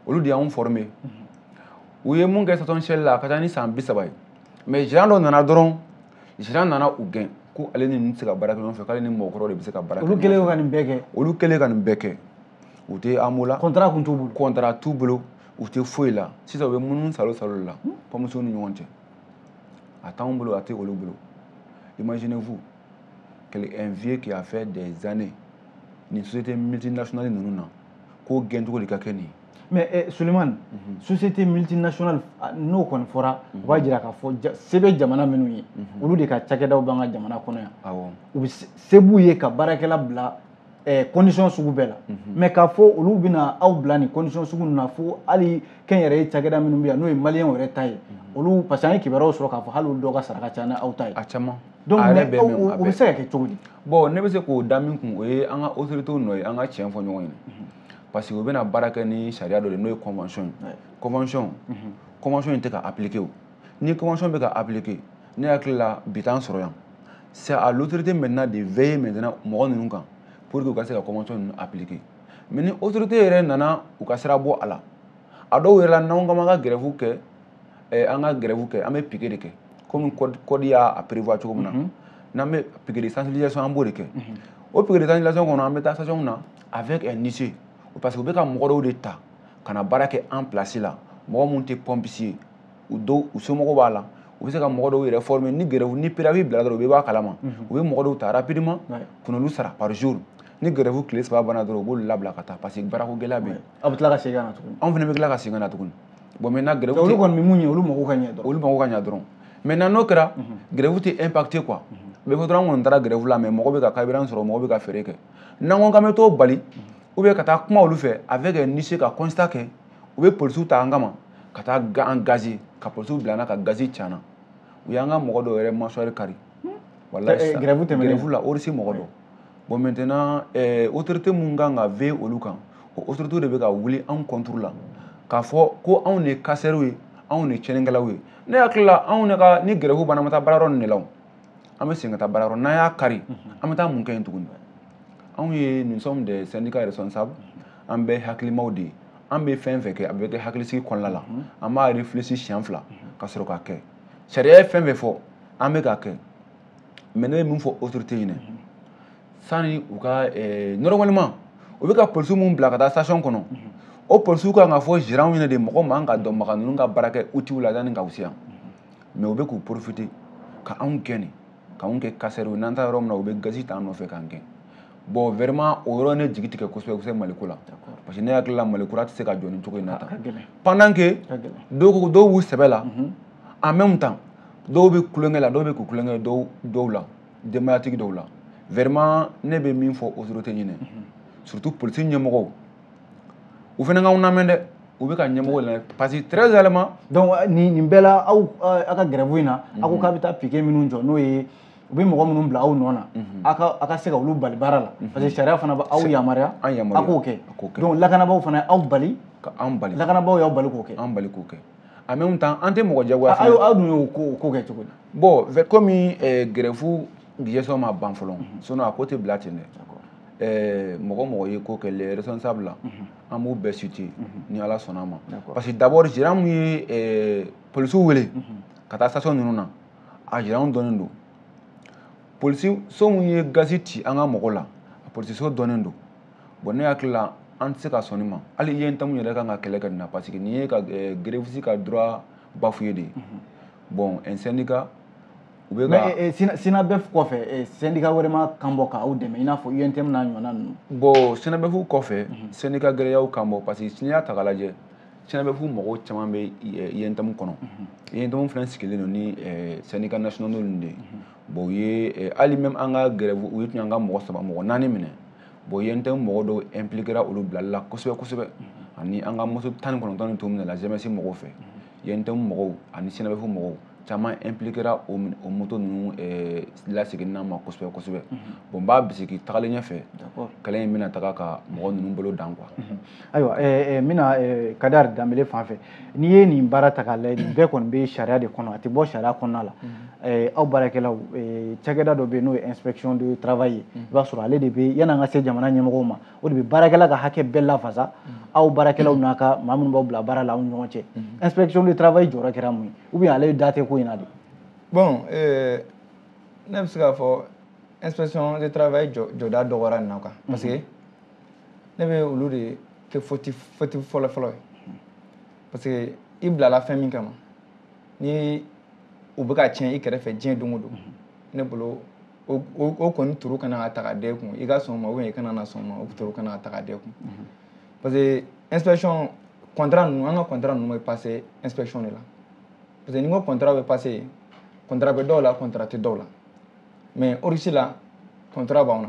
olu de y'anw former u ye mun kɛ station shell la a ka ca ni san bi saba ye mais gérant dɔ nana dɔrɔn gérant nana u gɛn ko ale ni ninnu tɛ se ka baara kɛ ɲɔgɔn fɛ k'ale ni mɔgɔkɔrɔ de bɛ se ka baara kɛ olu kɛlen ka nin bɛɛ kɛ olu kɛlen ka nin bɛɛ kɛ u tɛ AMO la contrat tun t'u bolo contrat t'u bolo u tɛ foyi la sisan u bɛ munumunu salo salo la kɔmuso ni ɲɔgɔn cɛ a t'anw bolo a tɛ olu bolo imaginez vous quel un vieux qui a fait des années nin société multinationale ninnu na k'o gɛncogo de ka kɛ nin ye mais eh, sulemani mm -hmm. société multinationale ah, n'o kɔni fɔra mm -hmm. u b'a jira k'a fɔ ja, se bɛ jamana minnu ye mm -hmm. olu de ka cakɛdaw b'an ka jamana kɔnɔ yan u bɛ se b'u ye ka baarakɛla bila eh, condition sugu bɛɛ la mm -hmm. mais k'a fɔ olu bɛna aw bila nin condition sugu ninnu na fo hali kɛnyɛrɛye cakɛda minnu bɛ yan n'o ye maliyɛnw yɛrɛ ta ye mm -hmm. olu parce que an ye kibaruyaw sɔrɔ k'a fɔ hali olu dɔw ka sara ka ca ni aw ta ye a caman donc a yɛrɛ bɛ mais o bɛ se ka kɛ cogo di bon ne bɛ se k'o da min kun o ye an ka autorité nɔ ye an ka tiɲɛ fɔ ɲɔgɔn ye parce que u bɛna baara kɛ ni sariya dɔ de n'o ye convention ye convention convention in tɛ ka appliquer o ni convention bɛ ka appliquer ne hakili la bi t'an sɔrɔ yan c'est à l'autorité maintenant de veiller maintenant mɔgɔ ninnu kan pour que u ka se ka convention ninnu appliquer mais ni autorité yɛrɛ nana u ka sira bɔ a la a dɔw yɛrɛ la n'anw k'an b'an ka grève kɛ eh, an ka grève kɛ an bɛ piquet de kɛ komi code y'a prévoir cogo min na mhm. n'an bɛ piquet de sensibilisation an b'o de kɛ mhm. o piquet de sensibilisation kɔnɔ an bɛ taa station na avec un huissier parce que u bɛ ka mɔgɔ dɔw de ta ka na baara kɛ an place la mɔgɔ minnu tɛ pompistes ye u dɔw u somɔgɔw b'a la u bɛ se ka mɔgɔ dɔw yɛrɛ former ni grève ni préavis bila dɔrɔn u bɛ bɔ a kalama mhm. u bɛ mɔgɔ dɔw ta rapidement ka n'olu sara par jour ni grève tile saba banna dɔrɔn u b'olu labila ka taa parce que baarako gɛlɛya bɛ yen aw bɛ tila ka segin ka na tuguni anw fana bɛ tila ka segin ka na tuguni bon maintenant grève olu kɔni mun ye olu mago ka ɲɛ dɔrɔn olu mago ka ɲɛ dɔrɔn maintenant n'o kɛra grève tɛ impacter quoi bɛɛ ko dɔrɔn an kɔni taara grève la mais mɔgɔ bɛ ka carburant sɔrɔ mɔgɔ bɛ ka feere kɛ n'an ko k'an bɛ t'o bali ou bien ka taa kuma olu fɛ avec un huissier ka constat kɛ u bɛ polisiw ta an kama ka taa an gazer ka polisiw bila an na ka gazi ci an na u y'an ka mɔgɔ dɔw yɛrɛ mâchoire kari walayi grève tɛmɛnen grève la Oryx mɔgɔ dɔ bon maintenant eh, autorité mun kan ka veiller olu kan o autorité de bɛ ka wuli anw contre la k'a fɔ ko anw de ye casseurs ye anw de ye tiɲɛnikɛlaw ye ne hakili la anw de ka ni grève banna an bɛ taa baarayɔrɔ nin de la an bɛ segin ka taa baarayɔrɔ n'an y'a kari an bɛ taa mun kɛ yen tuguni anw ye nous sommes des syndicats responsables an bɛɛ hakilimaw de ye an bɛ fɛn fɛn kɛ a bɛ kɛ hakilisigi kɔnɔna la an b'a réfléchir siɲɛ fila ka sɔrɔ k'a kɛ sariya ye fɛn fɛn fɔ an bɛ k'a kɛ mais ne bɛ min fɔ autorité ɲinɛ sani u ka eh, normalement u bɛ ka polisi minnu bila ka taa station kɔnɔ o polisiw kan ka fɔ gérant ɲinɛ de mɔgɔ man ka maga ninnu ka baara kɛ outil la yanni ka u se yan mais u bɛ k'u profiter ka anw gɛnni k'anw kɛ casseurs ye n'an taara yɔrɔ min na u bɛ gazi t'an nɔfɛ k'an gɛn bon vraiment o yɔrɔ ne jigi tigɛ kosɛbɛ kosɛbɛ maliko la parce que ne hakili la malikura tɛ se ka jɔ nin cogo in na tan pendant que dɔw ko dɔw b'u sɛbɛ la en même temps dɔw bɛ tulonkɛ la dɔw bɛ ka tulon kɛ dɔw dɔw la denbayatigi dɔw la vraiment ne bɛ min fɔ autorité ɲinɛ surtout polisi ɲɛmɔgɔw u fana k'anw lamɛn dɛ u bɛ ka ɲɛmɔgɔ lamɛn parce que très réellement donc euh, nin nin bɛɛ la aw euh, aw ka grève in na aw ko k'aw bɛ taa piquet minnu jɔ n'o ye u bɛ mɔgɔ minnu bila aw nɔ na aw ka aw ka se ka olu bali baara la parce que sariya fana bɛ aw yamaruya an yamaruya. aw k'o kɛ an k'o kɛ. donc lakanabaaw fana aw bali ka an bali lakanabaaw y'aw bali k'o kɛ an bali k'o kɛ en même temps an tɛ mɔgɔ jagoya fana aw dun y'o ko ko kɛ cogo di bon komi eh, grève gestion ma ban fɔlɔ mhm. sinon a ko tɛ bila ten dɛ eh, mɔgɔ mɔgɔ ye ko kɛ les responsables la mhm. an b'u bɛɛ citer mhm. ni ala sɔnna a ma parce que d'abord gérant min ye eh, polisiw wele ka taa station ninnu na a gérant dɔnnen don polisi so min ye gazi ci an ka mɔgɔ la a polisi so dɔnnen don bon ne hakili la an tɛ se ka sɔn nin ma hali UNTM yɛrɛ kan ka kɛlɛ kɛ nin na parce que nin ye ka eh, gréviste ka droit bafoué de ye mhm. bon un syndicat u bɛ ka eh, eh, SYNABEF kɔfɛ syndicat wɛrɛ ma kan bɔ k'aw dɛmɛ i n'a fɔ UNTM n'a ɲɔgɔnna ninnu bon SYNABEF kɔfɛ mhm. syndicat wɛrɛ y'a kan bɔ parce que n'i y'a ta k'a lajɛ SYNABEF mɔgɔw caman bɛ UNTM kɔnɔ UNTM mhm. fana sigilen don ni syndicat nationaux ninnu de ye bon u ye hali même an ka grève u ye tun y'an ka mɔgɔ saba mɔgɔ naani minɛ bon UNTM mɔgɔ dɔw impliquera olu bilali la kosɛbɛ kosɛbɛ ani an ka moto tan ni kɔnɔntɔn nin tun minɛla GMS mɔgɔw fɛ UNTM mɔgɔw ani SYNABEF mɔgɔw caman impliquera o moto ninnu eh, laseginna ma kosɛbɛ kosɛbɛ bon n b'a bisigi tagalen ɲɛfɛ kɛlɛ in bɛna taga ka mɔgɔ ninnu bolo dan quoi ayiwa eh, eh, n bɛna eh, kadari danbele fan fɛ n'i ye nin baara ta k'a lajɛ nin bɛɛ kɔni bɛ sariya de kɔnɔ a tɛ bɔ sariya kɔnɔna la mhm. aw baarakɛlaw cakɛda dɔ bɛ yen n'o ye inspection de travail ye mhm. i b'a sɔrɔ ale de bɛ yann'an ka se jamana ɲɛmɔgɔw ma o de bɛ baarakɛla ka hakɛ bɛɛ lafasa mhm. aw baarakɛlaw n'a ka maa minnu b'aw bila baara la aw ni ɲɔgɔn cɛ inspection de travail jɔyɔrɔ kɛra mun ye ou bien ale da tɛ ko in na de. bon ne bɛ se k'a fɔ inspection de travail jɔda dɔgɔyara nin na quoi parce que. ne bɛ olu de kɛ fautif fautif fɔlɔ fɔlɔ ye parce que i bilala fɛn min kama ni u bɛ ka tiɲɛ i kɛrɛfɛ diɲɛ don o don ne bolo o o- o kɔni tort kan ka ta ka da i kun i ka sɔn o ma ou bien i kana na sɔn o ma o tort kan ka ta ka da i kun parce que inspection contrat ninnu an ka contrat ninnu bɛ passer inspection de la parce que ni n ko contrat bɛ passer yen contrat bɛ dɔw la contrat tɛ dɔw la mais Oryx la contrat b'anw na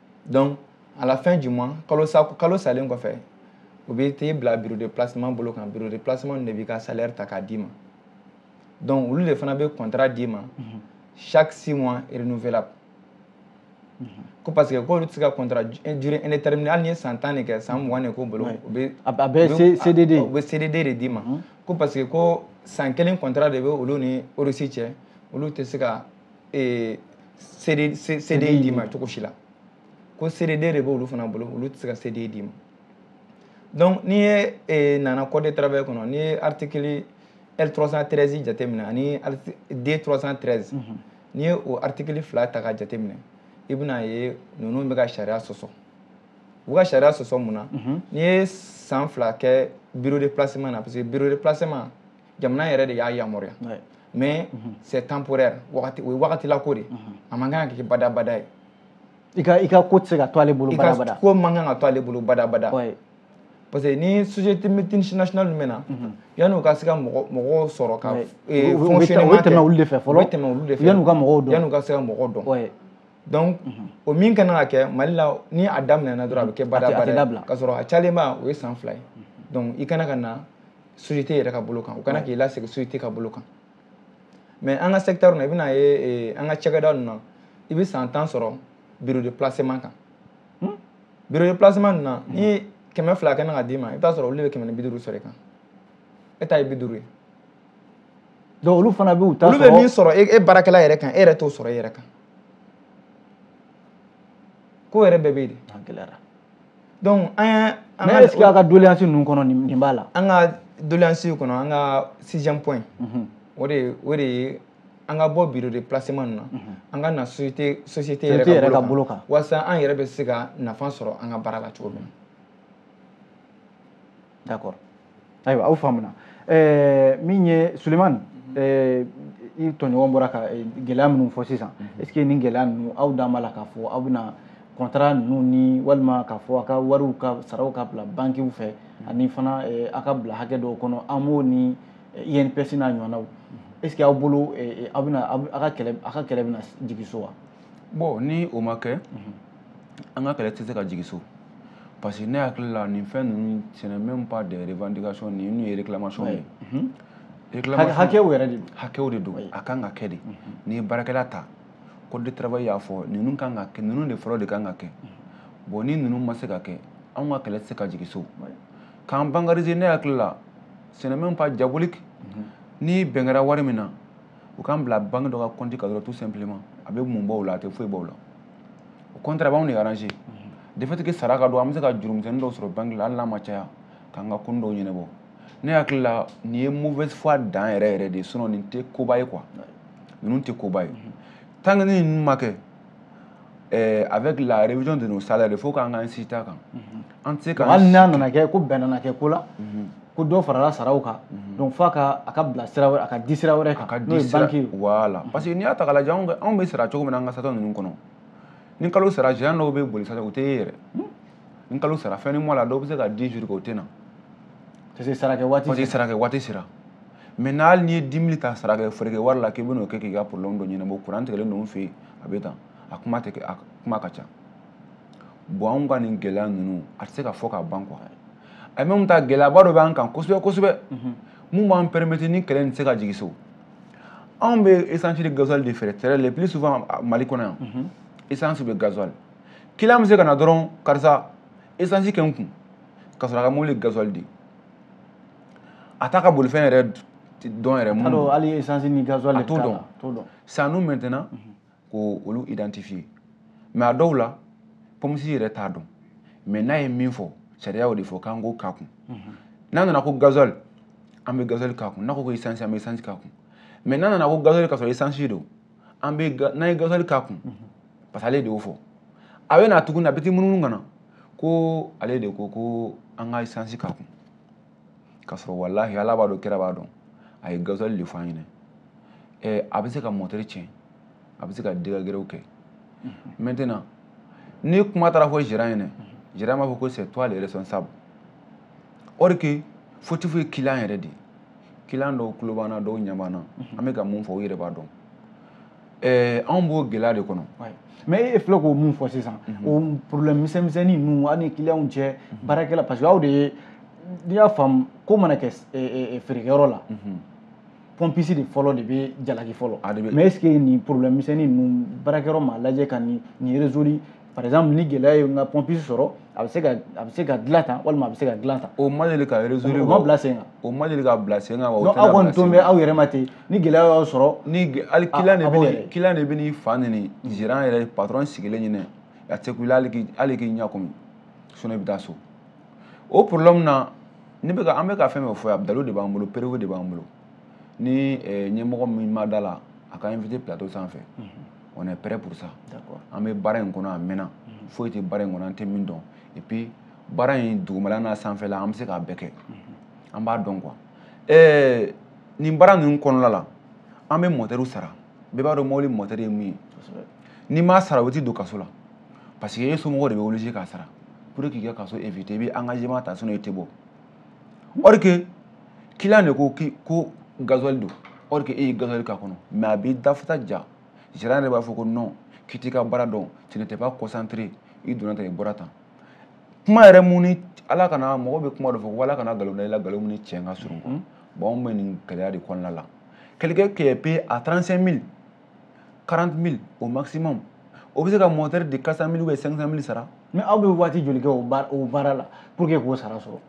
donc à la fin du mois kalo sa kalo salen kɔfɛ u bɛ t'e bila bureau de placement bolo kan bureau de placement de b'i ka salaire ta k'a d'i ma donc olu de fana bɛ contrat d'i ma mhm. chaque six mois renouvelable mhm. ko parce que k'olu tɛ se ka contrat durée indéterminée hali n'i ye san tan de kɛ san mugan de k'o bolo u bɛ a bɛ CDD u bɛ CDD de d'i ma mhm. ko parce que ko san kelen contrat de bɛ olu ni Oryx cɛ olu tɛ se ka ee CD CDI d'i ma cogo si la ko CDD de b'olu fana bolo olu tɛ se ka CDI d'i ma donc n'i ye ee nana code de travail kɔnɔ n'i ye article L 313 jateminɛ ani D 313 n'i ye o article fila ta ka jateminɛ i bɛna ye ninnu bɛ ka sariya sɔsɔ u bɛ ka sariya sɔsɔ mun na n'i ye san fila kɛ bureau de placement na parce que bureau de placement jamana yɛrɛ de y'a yamaruya mais mhm. c'est temporaire wagati o ye wagatila ko de mhm. a man kan ka kɛ badabada ye i ka i ka ko tɛ se ka to ale bolo badabada i ka ko man kan ka to ale bolo badabada parce que ni société multinationale ninnu bɛ na mhm. yanni u ka se ka mɔgɔ mɔgɔw sɔrɔ ka fonctionnement kɛ u bɛ tɛmɛ olu de fɛ fɔlɔ u bɛ tɛmɛ olu de fɛ yanni u ka mɔgɔw dɔn yanni u ka se ka mɔgɔw dɔn donc mhm. o min ka kan ka kɛ mali la ni a daminɛna dɔrɔn a bɛ kɛ badabada ka sɔrɔ a cayalenba o ye san fila ye mhm. donc i kan ka na société yɛrɛ ka bolo kan u kan k'i lasegin société ka bolo kan mais an ka secteur na i bɛn'a ye eh, an ka cakɛda ninnu na i bɛ san tan sɔrɔ bureau de placement kan hmm? bureau de placement ninnu na ni hmm. kɛmɛ fila kan ka d'i ma i bɛ t'a sɔrɔ olu de bɛ kɛmɛ ni bi duuru sɔrɔ i kan e ta ye bi duuru ye donc olu fana b'u ta sɔrɔ olu bɛ min sɔrɔ e baarakɛla yɛrɛ kan e yɛrɛ t'o sɔrɔ e yɛrɛ kan ko yɛrɛ bɛɛ bɛ yen de gɛlɛyara donc an y'a an ka est-ce que a ka doléance ninnu kɔnɔ nin b'a la an ka doléance kɔnɔ an ka sixième point mhm. o de o de ye an ka bɔ bureau de placement ninnu na mhm. an ka na société société yɛrɛ ka bolo kan walasa an yɛrɛ bɛ se ka nafa sɔrɔ an ka baara la cogo min na d'accord ayiwa aw faamuna eh, min ye sulemani mhm. eh, i tɔɲɔgɔn bɔra ka eh, gɛlɛya minnu fɔ sisan mhm. est ce que nin gɛlɛya ninnu aw dan b'a la k'a fɔ aw bɛna contrat ninnu ni walima k'a fɔ a ka wariw ka saraw ka bila bankiw fɛ mhm. ani fana a ka bila hakɛ dɔw kɔnɔ amo ni inps n'a ɲɔgɔnnaw est ce que aw bolo aw bɛna aw ka kɛlɛ bɛna jigin so wa bon ni o ma kɛ an ka kɛlɛ tɛ se ka jigin so parce que ne hakili la nin fɛn ninnu ce n'est même pas des revendications ninnu ye réclamation ye mhm. hakɛw yɛrɛ de hakɛw de don a kan ka kɛ de mhm. n'i ye baarakɛla ta code de travail y'a fɔ ninnu kan ka kɛ ninnu de fɔlɔ de kan ka kɛ mhm. bon ni ninnu ma se ka kɛ anw ka kɛlɛ tɛ se ka jigin so k'an bancariser ne hakili la ce n'est même pas diabolique ni bɛn kɛra wari min na u k'an bila banque dɔ ka compte kan dɔrɔn tout simplement a bɛ mun bɔ o la a tɛ foyi bɔ o la au contraire a b'anw de arranger de fait que sara ka don an bɛ se ka jurumisɛnnin dɔw sɔrɔ banque la hali n'a ma caya k'an ka konin dɔw ɲɛnabɔ ne hakili la nin ye mauvaise foi dan yɛrɛ yɛrɛ de ye sinon nin tɛ koba ye quoi ninnu tɛ koba ye tant que ni ninnu ma kɛ eh, avec la révision de nos salaires il faut k'an ka insister a kan an tɛ se k'an hali n'a nana kɛ ko bɛn nana kɛ ko la mhm. ko dɔ farala saraw kan mhm. donc f'a ka a ka bila sira wɛrɛ a ka di sira wɛrɛ kan n'o ye banki ye voilà mhm. parce que n'i y'a ta k'a lajɛ anw bɛ sara cogo min na an ka sata ninnu kɔnɔ ni kalo sara gérant dɔw bɛ boli sata o tɛ ye yɛrɛ hmm? ni kalo sara fin du mois la dɔw bɛ se ka dix jours kɛ o tɛ na parce que sarakɛ waati parce que sarakɛ waati sera mais hali n'i ye dix mille ta sarakɛ feerekɛ wari la k'i bɛn'o kɛ k'i ka problème dɔ ɲɛnabɔ kuran tigɛlen ninnu fɛ yen a bɛ tan a kuma tɛ a kuma ka ca bon anw ka nin gɛlɛya ninnu a tɛ se ka fɔ ka ban quoi en même temps gɛlɛyaba dɔ b'an kan kosɛbɛ kosɛbɛ mun b'an permettre ni kɛlɛ nin tɛ se ka jigin so anw bɛ essence de gasoil de feere très le plus souvent mali kɔnɔ yan essence bɛ gasoil client bɛ se ka na dɔrɔn karisa essence kɛ n kun ka sɔrɔ a ka mobili gasoil di a t'a ka bolifɛn yɛrɛ dɔn yɛrɛ mun don hali essence ni gasoil a t'o dɔn t'o dɔn c'est à nous maintenant mhm. k'olu identifier mais a dɔw la pompiste yɛrɛ t'a dɔn mais n'a ye min fɔ sariya y'o de fɔ k'an k'o k'a kun mhm. n'a nana ko gasoil an bɛ gasoil k'a kun n'a ko ko essence an bɛ essence k'a kun mais n'a nana ko gasoil ka sɔrɔ essence don an bɛ n'an ye gasoil k'a kun parce que ale de y'o fɔ a bɛ na tuguni a bɛ t'i munumunu ka na ko ale de ko ko an ka essence k'a kun k'a sɔrɔ walahi ala b'a dɔn kira b'a dɔn a ye gasoil de fɔ an ɲɛna ɛ a bɛ se ka moteur tiɲɛ a bɛ se ka dégâts gɛrɛw kɛ maintenant ni kuma taara fɔ gérant ɲɛna gérant b'a fɔ ko c'est toi le responsable or que fautif ye client yɛrɛ de ye client dɔw tulo b'an na dɔw ɲɛ b'an na mhm. an bɛ ka mun fɔ u yɛrɛ b'a dɔn eh, anw b'o gɛlɛya de kɔnɔ mais e filɛ k'o mun fɔ sisan mhm. o problème misɛnmisɛnnin ninnu aw ni clientw cɛ mhm. baarakɛla parce que aw de ye n'i y'a faamu ko mana kɛ eh, eh, feerekɛyɔrɔ la pompiste de fɔlɔ de bɛ jalaki fɔlɔ mais est ce que nin problème misɛnnin ninnu baarakɛyɔrɔ m'a lajɛ ka nin nin résoudre par exemple ni gɛlɛya ye n ka pompiste sɔrɔ a bɛ se ka a bɛ se ka dilan tan walima a bɛ se ka dilan tan. o ma deli ka résoudre o ma bila sen kan. o ma deli ka bila sen kan wa o tɛna bila sen kan. aw kɔni tolen bɛ aw yɛrɛ ma ten ni gɛlɛya y'aw sɔrɔ. ni hali client de bɛ client de bɛ n'i fa neni gérant yɛrɛ patron sigilen ɲinɛ a tɛ kun i la hali k'i hali k'i ɲɛ kumu sinon i bɛ taa so o problème na ne bɛ ka an bɛ ka fɛn fɛn fɔ yan dalilu de b'an bolo preuve de b'an bolo ni ɲɛmɔgɔ min ma da la a k'a inviter plateau sanfɛ. on est prêt pour ça an bɛ baara in kɔnɔ a mɛnna mhm. foyi tɛ baara in kɔnɔ an tɛ min dɔn et puis baara in dugumala n'a sanfɛla an bɛ se k'a bɛɛ kɛ mhm. an b'a dɔn quoi ɛɛ nin baara ninnu kɔnɔna la an bɛ moteurw sara bɛɛ b'a dɔn mobili moteur ye mun ye n'i m'a sara o bɛ t'i don kaso la parce que e somɔgɔw de bɛ obligé k'a sara pour que k'i ka kaso éviter i bɛ engagement ta sinon i tɛ bɔ or que client de ko k'i ko gasoil don or que e ye gasoil k'a kɔnɔ mais a b'i dafata ja gérant yɛrɛ b'a fɔ ko non k'i t'i ka baara dɔn tu n'étais pas concentré i donna tan i bɔra tan kuma yɛrɛ mun ni ala kana mɔgɔ bɛ kuma dɔ fɔ ko ala kana nkalon da i la nkalon min ni tiɲɛ ka surun quoi bon anw bɛ nin gɛlɛya de kɔnɔna la quelqu'un qui est payé à 35 000 40 000 au maximum o bɛ se ka moteur de 400 000 ou 500 000 sara mais aw bɛ waati joli kɛ o baara la pour que k'o sara sɔrɔ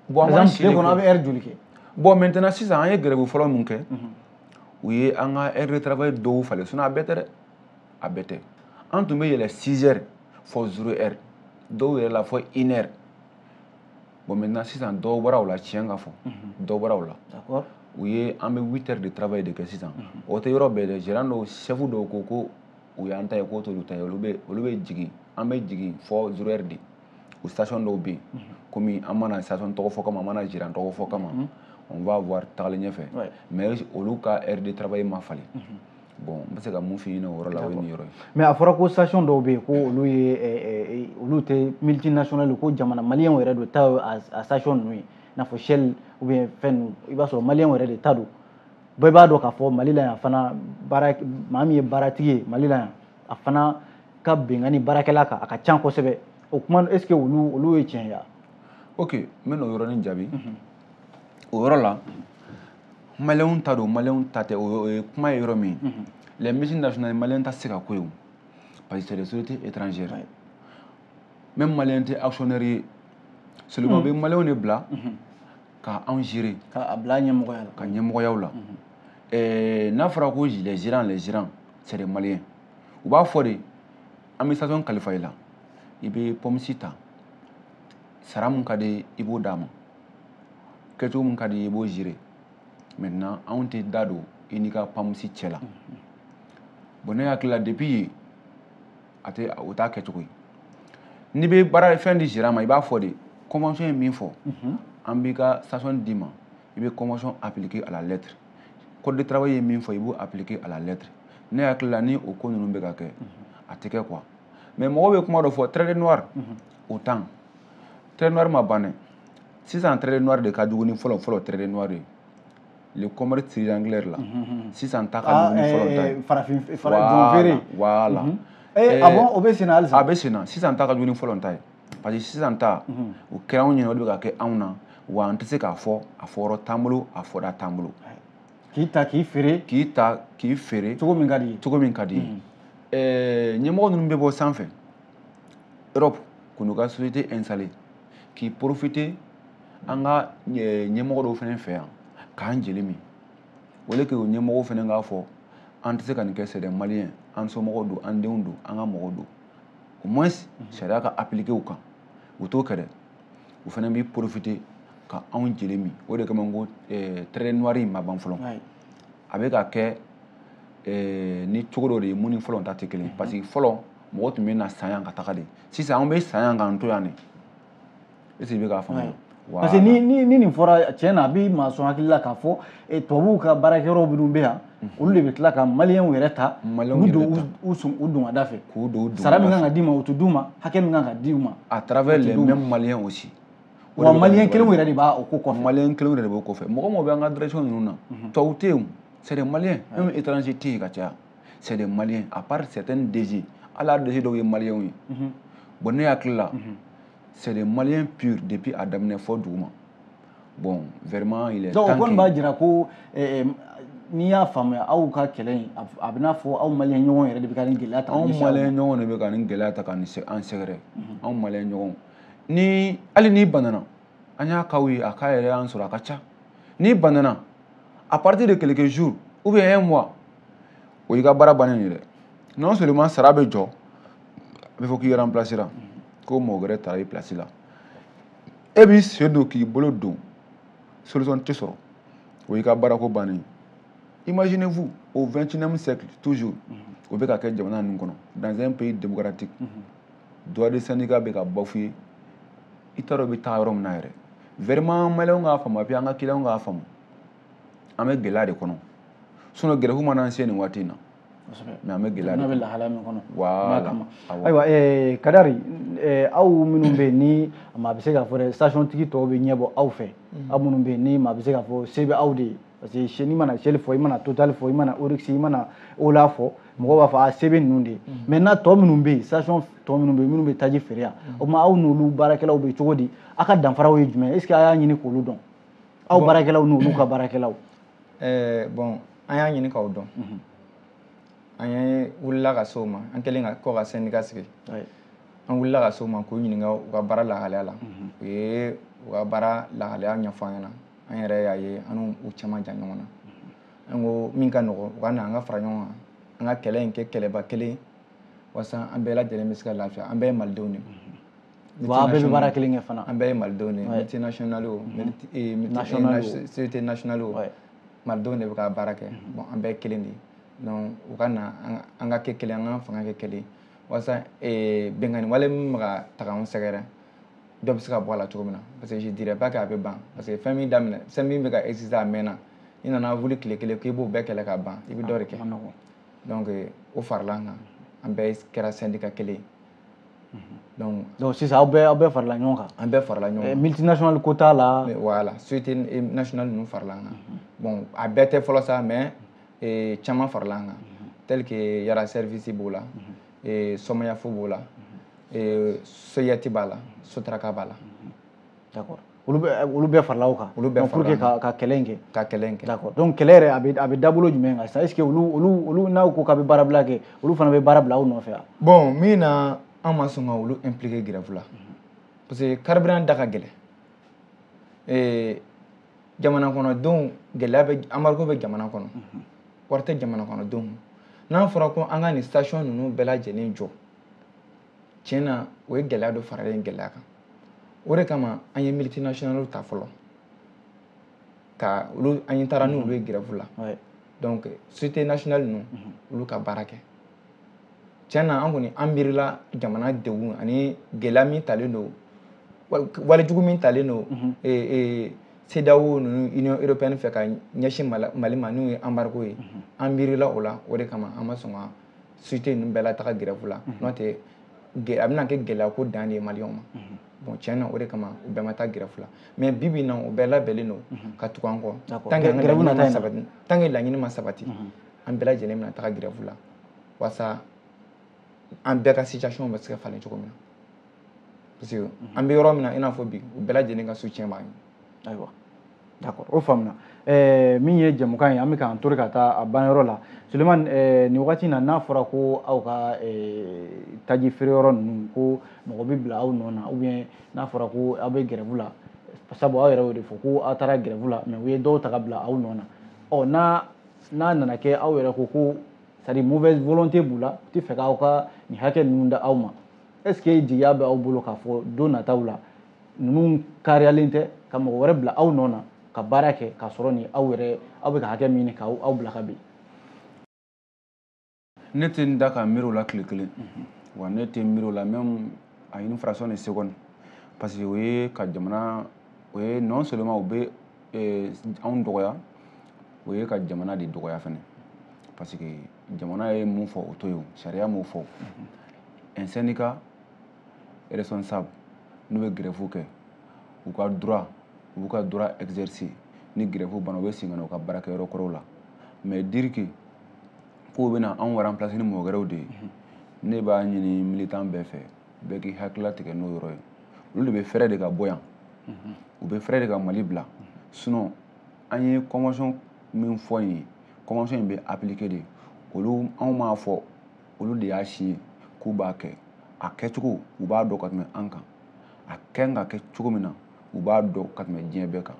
bon par exemple tile kɔnɔ aw bɛ heure joli kɛ bon maintenant sisan an ye grève fɔlɔ mun kɛ u ye an ka heure de travail dɔw falen sinon a bɛɛ tɛ dɛ a bɛɛ tɛ an tun bɛ yɛlɛ 6 heures fɔ 0 heure dɔw yɛrɛ la fɔ 1 heure bon maintenant sisan dɔw bɔra o la tiɲɛ ka fɔ dɔw bɔra o la u ye an bɛ 8 heures de travail de kɛ sisan o tɛ yɔrɔ bɛɛ dɛ gérant dɔw chef dɔw ko ko u y'an ta ye k'o t'olu ta ye olu bɛ olu bɛ jigin an bɛ jigin fɔ 0 heure de o station dɔw bɛ yen komi an ma na station tɔgɔ fɔ kama an ma na gérant tɔgɔ fɔ kama on va voir tagalen ɲɛfɛ mais olu ka heure de travail ma falen bon n bɛ se ka mun f'i ɲɛna o yɔrɔ la o ye nin yɔrɔ ye mais a fɔra ko station dɔw bɛ yen ko olu ye olu tɛ multinational ko jamana maliyɛnw yɛrɛ de ta a station ninnu ye i n'a fɔ shell ou bien fɛn ninnu i b'a sɔrɔ maliyɛnw yɛrɛ de ta don bɛɛ b'a dɔn k'a fɔ mali la yan fana maa min ye baaratigi ye mali la yan a fana ka bɛnkanni baarakɛla kan a ka can kosɛbɛ o kuma est ce que olu olu ye tiɲɛ ye wa ok n bɛ n'o yɔrɔnin jaabi o yɔrɔ la maliyɛnw ta don maliyɛnw ta tɛ o ye kuma ye yɔrɔ min les multinationales maliyɛn ta tɛ se ka k'o ye o parce que c'est des sociétés étrangères même maliyɛn tɛ actionnaire ye seulement bɛ maliyɛnw de bila ka anw gérer ka a bila ɲɛmɔgɔya la ka ɲɛmɔgɔyaw la n'a fɔra ko les gérants les gérants c'est des maliens u b'a fɔ de an bɛ station kalifa i la i bɛ pompiste ta sara mun ka di i b'o d'a ma kɛcogo mun ka di i b'o gérer maintenant anw tɛ da don i n'i ka pompiste cɛ la bon ne hakili la depuis yen o t'a kɛcogo ye n'i bɛ baara fɛn di gérant ma i b'a fɔ de convention ye min fɔ an b'i ka station d'i ma i bɛ convention appliquer à la lettre code de travail ye min fɔ i b'o appliquer à la lettre ne hakili la ni o ko ninnu bɛ ka kɛ a tɛ kɛ quoi mais mɔgɔw bɛ kuma dɔ fɔ traite des noirs o temps traite des noirs ma ban dɛ sisan traite des noirs de ka jugu ni fɔlɔ fɔlɔ traite des noirs ye le commerce triangulaire la sisan ta ka jugu ni fɔlɔ ta ye farafin farafin feere voilà a bɛ senna halisa a bɛ senna sisan ta ka jugu ni fɔlɔ ta ye parce que sisan ta o kɛra anw ɲɛna o de bɛ ka kɛ anw na wa an tɛ se k'a fɔ a fɔyɔrɔ t'an bolo a fɔda t'an bolo k'i ta k'i feere k'i ta k'i feere cogo min ka d'i ye cogo min ka d'i ye ɛɛ ɲɛmɔgɔ ninnu bɛ bɔ sanfɛ europe k'u n'u ka société installer k'i profiter an ka ɲɛmɔgɔ dɔw fana fɛ yan k'an jeli min au lieu que o ɲɛmɔgɔw fana k'a fɔ an tɛ se ka nin kɛ c'est des maliens an somɔgɔw don an denw don an ka mɔgɔw don au moins sariya ka appliquer u kan u t'o kɛ dɛ u fana b'i profiter ka anw jeli min o de kama n ko eh, traite noire in ma ban fɔlɔ a bɛ ka kɛ eh, ni cogo dɔ de ye mun ni fɔlɔ ta tɛ kelen ye parce que fɔlɔ mɔgɔ tun bɛ n'an san yan ka taga de sisan anw bɛ san yan k'an to yan de est ce que i bɛ k'a faamuya parce que ni ni ni nin fɔra tiɲɛ na a bɛ maa sɔn hakili la k'a fɔ eh, tubabuw ka baarakɛyɔrɔ minnu bɛ yan mhm. olu de bɛ tila ka maliyɛnw yɛrɛ ta u don u sun u don ka da fɛ k'u don u don sara min kan ka d'i ma u tɛ d'u ma hakɛ min kan ka di u ma à travers les mêmes Maliens aussi wa maliyɛn kelenw yɛrɛ de b'a o ko kɔfɛ maliyɛn kelenw yɛrɛ de b'o kɔfɛ mɔgɔ mɔgɔ bɛ an ka direction ninnu na mhm. tubabu tɛ yen c'est des Maliens même étranger tɛ yen ka caya c'est des Maliens à part certains DG hali a DG dɔw ye maliyɛnw ye mhm. bon ne hakili la c'est des Maliens purs depuis a daminɛ fɔ duguma bon vraiment il est temps donc o kɔni b'a jira ko eh, eh, n'i y'a faamuya aw ka kɛlɛ in a bɛ n'a fɔ aw maliyɛn ɲɔgɔn yɛrɛ de bɛ ka nin gɛlɛya ta anw maliyɛn ɲɔgɔn de bɛ ka nin gɛlɛya ta ka an sɛgɛrɛ mhm. anw maliyɛn ɲɔgɔn ni hali n'i banana an y'a casw ye a cas yɛrɛ y'an sɔrɔ a ka ca n'i banana à partir de quelques jours ou bien un mois o y'i ka baara bannen ye dɛ non seulement sara bɛ jɔ a bɛ fɔ k'i remplacer la ko mɔgɔ wɛrɛ tara i place la e b'i sen don k'i bolo don solution tɛ sɔrɔ o y'i ka baarako bannen ye Imaginez-vous, au XXIe siècle, toujours, o bɛ ka kɛ jamana ninnu kɔnɔ dans un pays démocratique droit de syndicat bɛ ka bafouer i t'a dɔn i bɛ taa yɔrɔ min na yɛrɛ vraiment maliyɛnw k'a faamu et puis an ka kiliyanw k'a faamu an bɛ gɛlɛya de kɔnɔ sinon gɛrɛfu mana an se nin waati in na mais an bɛ gɛlɛya de bɛ lahala min kɔnɔ voilà ayiwa eh, Kadari eh, aw minnu bɛ yen ni maa bɛ se k'a fɔ dɛ station tigi tɔw bɛ ɲɛbɔ aw fɛ aw minnu bɛ yen ni maa bɛ se k'a fɔ se bɛ aw de ye parce que n'i mana Shell fɔ i mana Total fɔ i mana Oryx i mana Ola fɔ mɔgɔw b'a fɔ a se bɛ ninnu de ye maintenant tɔ minnu bɛ yen station tɔ minnu bɛ yen minnu bɛ taji feere yan o tuma aw n'olu baarakɛlaw bɛ cogo di aw ka danfaraw ye jumɛn est ce que a y'a ɲini k'olu dɔn aw baarakɛlaw n'olu ka baarakɛlaw eh, bon an y'a ɲini k'aw dɔn mhm. an ye wulila ka se o ma an kɛlen kɔ ka sɛndika sigi an wulila ka se o ma k'u ɲininka u ka baara lahalaya la mhm. u ye u ka baara lahalaya ɲɛfɔ an ɲɛ na an yɛrɛ y'a ye an n'u cɛ man jan ɲɔgɔn na mhm. an ko min ka nɔgɔ u ka na an ka fara ɲɔgɔn kan an ka kɛlɛ in kɛ kɛlɛba kelen walasa an bɛɛ lajɛlen bɛ se ka lafiya an bɛɛ ye malidenw de Wa bɛɛ bɛ baara kelen kɛ fana an bɛɛ ye malidenw de ye multinationale o société nationale o malidenw de bɛ ka baara kɛ bon an bɛɛ kelen de ye u ka na an ka kɛ kelen an ka fanga kɛ kelen walasa binkanni wale min bɛ ka taga anw sɛgɛrɛ dɔ bɛ se ka bɔ a la cogo min na parce que je dirais pas que a bɛ ban parce que fɛn min daminɛ fɛn min bɛ ka exister a mɛnna i nana wuli tile kelen k'i b'o bɛɛ kɛlɛ ka ban i bɛ dɔ de kɛ o farala an kan an bɛɛ kɛra sɛndika kelen donc donc sisan aw bɛɛ aw bɛɛ farala ɲɔgɔn kan an bɛɛ farala ɲɔgɔn kan multinational ko t'a la voilà société nationale ninnu farala an kan bon a bɛɛ tɛ fɔlɔ sa mais caman farala an kan tel que yara service b'o la somayafo b'o la soyati b'a la sotaraka b'a la d'accord olu bɛ olu bɛɛ farala aw kan olu bɛɛ pour que ka ka kɛlɛ in kɛ ka kɛlɛ in kɛ d'accord donc kɛlɛ yɛrɛ a bɛ a bɛ dabolo jumɛn kan sisan est ce que olu olu olu n'aw ko k'a bɛ baarabila kɛ olu fana bɛ baara bila aw nɔfɛ wa bon min na an ma sɔn ka olu impliquer grève la parce que carburant da ka gɛlɛn ee jamana kɔnɔ donc gɛlɛya bɛ embargo bɛ jamana kɔnɔ wari tɛ jamana kɔnɔ donc n'an fɔra ko an ka nin station ninnu bɛɛ lajɛlen jɔ tiɲɛ na o ye gɛlɛya dɔ faralen gɛlɛya kan o de kama an ye multinationales ta fɔlɔ ka olu an ye taara n'olu ye grève la donc société nationale ninnu mhm. olu ka baara kɛ tiɲɛ na an kɔni an miirila jamana degun ani gɛlɛya min talen don walejugu min talen don mhm. e, e, CEDEAO ninnu union européenne fɛ ka ɲɛsin mali ma n'o ye embargo ye mhm. an miirila o la o de kama an ma sɔn ka société ninnu bɛɛ lataga grève la n'o tɛ a bɛna kɛ gɛlɛya ko dan de ye maliyɛnw ma bon tiɲɛ na o de kama u bɛɛ ma taa grève la mais bi bi in na u bɛɛ labɛnnen don ka tugu an kɔ tant que laɲini ma sabati tant que laɲini ma sabati an bɛɛ lajɛlen bɛna taga grève la walasa an bɛɛ ka situation bɛ se ka falen cogo min na parce que an bɛ yɔrɔ min na i n'a fɔ bi u bɛɛ lajɛlen ka soutien b'an ye ayiwa d'accord o faamuna eh, min ye jɛmukan ye an bɛ k'an tori ka taa a banyɔrɔ la suleman eh, nin wagati na n'a fɔra ko aw ka eh, taji feere yɔrɔ ninnu ko mɔgɔ bɛ bila aw nɔ na ou bien n'a fɔra ko aw bɛ grève la sabu aw yɛrɛ y'o de fɔ ko aw taara grève la mais u ye dɔw ta ka bila aw nɔ na ɔ n'a n'a nana kɛ aw yɛrɛ ko ko c'est à dire mauvaise volonté b'u la u tɛ fɛ k'aw ka nin hakɛ ninnu d'aw ma est ce que jigiya bɛ aw bolo k'a fɔ don nataw la ninnu kariyalen tɛ ka mɔgɔ wɛrɛ bila aw nɔ na ka baara kɛ k'a sɔrɔ ni aw yɛrɛ aw bɛ ka hakɛ min ɲini k'aw bila ka bin ne tɛ n da ka miiri o la tile kelen wa ne tɛ n miiri o la même à une fraction de seconde parce que o ye ka jamana o ye non seulement u bɛ eh, anw dɔgɔya o ye ka jamana de dɔgɔya fɛnɛ parce que jamana ye mun fɔ o to yen sariya m'o fɔ un syndicat responsable n'u bɛ grève kɛ u ka droit u b'u ka droit exercer ni grève banna u bɛ segin ka na u ka baarakɛyɔrɔ kɔrɔw la mais dire que k'u bɛna anw remplacer ni mɔgɔ wɛrɛw de ye ne b'a ɲini militant bɛɛ fɛ bɛɛ k'i hakili latigɛ n'o yɔrɔ ye olu de bɛ fɛɛrɛ de ka bɔ yan u bɛ fɛɛrɛ de ka mali bila sinon an ye convention min fɔ in ye convention in bɛ appliquer de olu anw m'a fɔ olu de y'a signé k'u b'a kɛ a kɛcogo u b'a dɔn ka tɛmɛ an kan a kan ka kɛ cogo min na u b'a dɔn ka tɛmɛ diɲɛ bɛɛ kan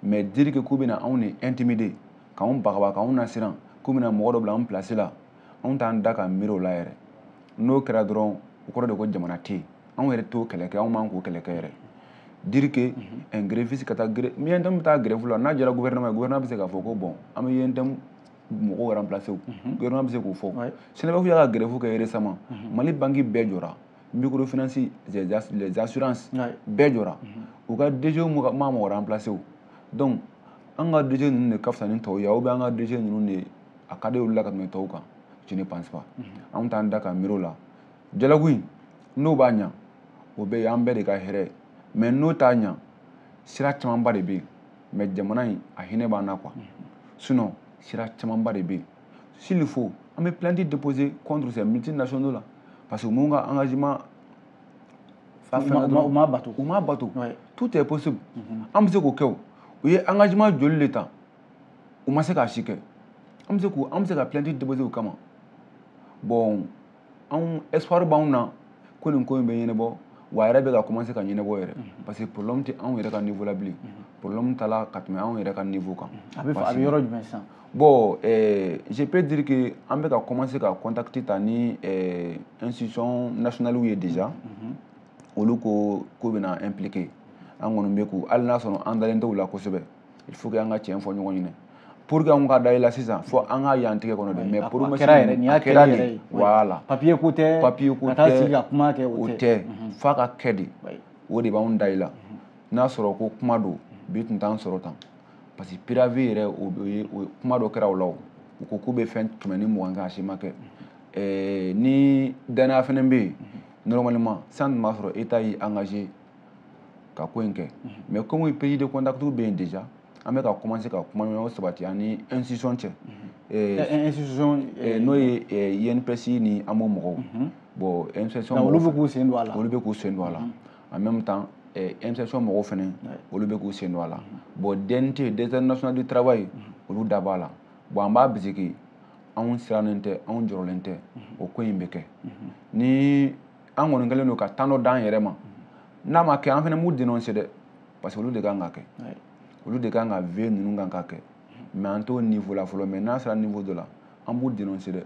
mais dire que k'u bɛna anw de intimider k'anw bagaba k'anw nasiran k'u bɛna mɔgɔ dɔ bila anw place la anw t'an da ka miiri o la yɛrɛ n'o kɛra dɔrɔn o kɔrɔ de ko jamana tɛ yen anw yɛrɛ t'o kɛlɛ kɛ anw man k'o kɛlɛ kɛ yɛrɛ dire que un gréviste ka taa grève ni UNTM bɛ taa grève la n'a jɛra gouvernement ye gouvernement bɛ se k'a fɔ ko bon an bɛ UNTM mɔgɔw remplacer o gouvernement bɛ se k'o fɔ SYNABEF y'a ka grève kɛ récemment Mali banque bɛɛ jɔra microfinance les assurances bɛɛ jɔra u ka DG ma mɔgɔ remplacer o donc an ka DG ninnu de ka fisa ni tɔw ye ou bien an ka DG ninnu de a ka d'olu la ka tɛmɛ tɔw kan je ne pense pas anw t'an da ka miiri o la dialogue in n'o b'a ɲa o bɛ y'an bɛɛ de ka hɛrɛ ye mais n'o t'a ɲa sira camanba de bɛ yen mais jamana in a hinɛ b'an na quoi sinon sira camanba de bɛ yen s'il faut an bɛ plainte déposer contre ces multinationaux là parce que mun ka engagement fa fɛn dɔrɔn u m'a bato u m'a bato tout est possible mhm. an bɛ se k'o kɛ o u ye engagement joli de ta u ma se k'a si kɛ an bɛ se k'u an bɛ se ka plainte déposer u kama bon anw espoir b'anw na ko nin ko in bɛ ɲɛnabɔ wa a yɛrɛ bɛ ka commencer ka ɲɛnabɔ yɛrɛ mhm. parce que problème tɛ anw yɛrɛ ka niveau la bilen mhm. problème taala ka tɛmɛ anw yɛrɛ ka niveau kan mhm. a bɛ a bɛ yɔrɔ jumɛn sisan bon euh, je peux dire que an bɛ ka commencer ka contact ta ni euh, institution nationale ye déjà olu ko k'u bɛna impliquer an kɔni bɛ k'u hali n'a sɔrɔ an dalen t'u la kosɛbɛ il faut que an ka tiɲɛ fɔ ɲɔgɔn ɲɛna pour que an ka da i la sisan fo an k'a y'an tigɛ kɔnɔ de mais promesse kɛra yɛrɛ nin y'a kɛra de voilà papier ko tɛ papier ko tɛ ka taa sigi ka kuma kɛ o tɛ f'a ka kɛ de o de b'anw da i la n'a sɔrɔ ko kuma don bi tun t'an sɔrɔ tan parce que préavis yɛrɛ o ye kuma dɔ kɛra o la o u ko k'u bɛ fɛn kɛmɛ ni mugan kɛ a si ma kɛ ni danaya fana bɛ yen normalement san tun b'a sɔrɔ État y'i engagé ka ko in kɛ mais comme prise de contactw bɛ yen déjà an bɛ ka commencer ka kumaɲɔgɔn sabati an ni institution cɛ institution n'o ye INPS ni AMO mɔgɔw bon institution olu bɛ k'u sen don a la olu bɛ k'u sen don a la en même temps institution mɔgɔw fana olu bɛ k'u sen don a la bon DNT direction nationale du travail olu da b'a la bon an b'a bisiki anw sirannen tɛ anw jɔrɔlen tɛ o ko in bɛ kɛ ni an kɔni kɛlen don ka temps dɔ d'an yɛrɛ ma n'a ma kɛ an fana b'u dénoncer dɛ parce que olu de kan ka kɛ olu de kan ka veiller ninnu kan ka kɛ mais an t'o niveau la fɔlɔ mais n'a sera niveau dɔ la an b'u dénoncer dɛ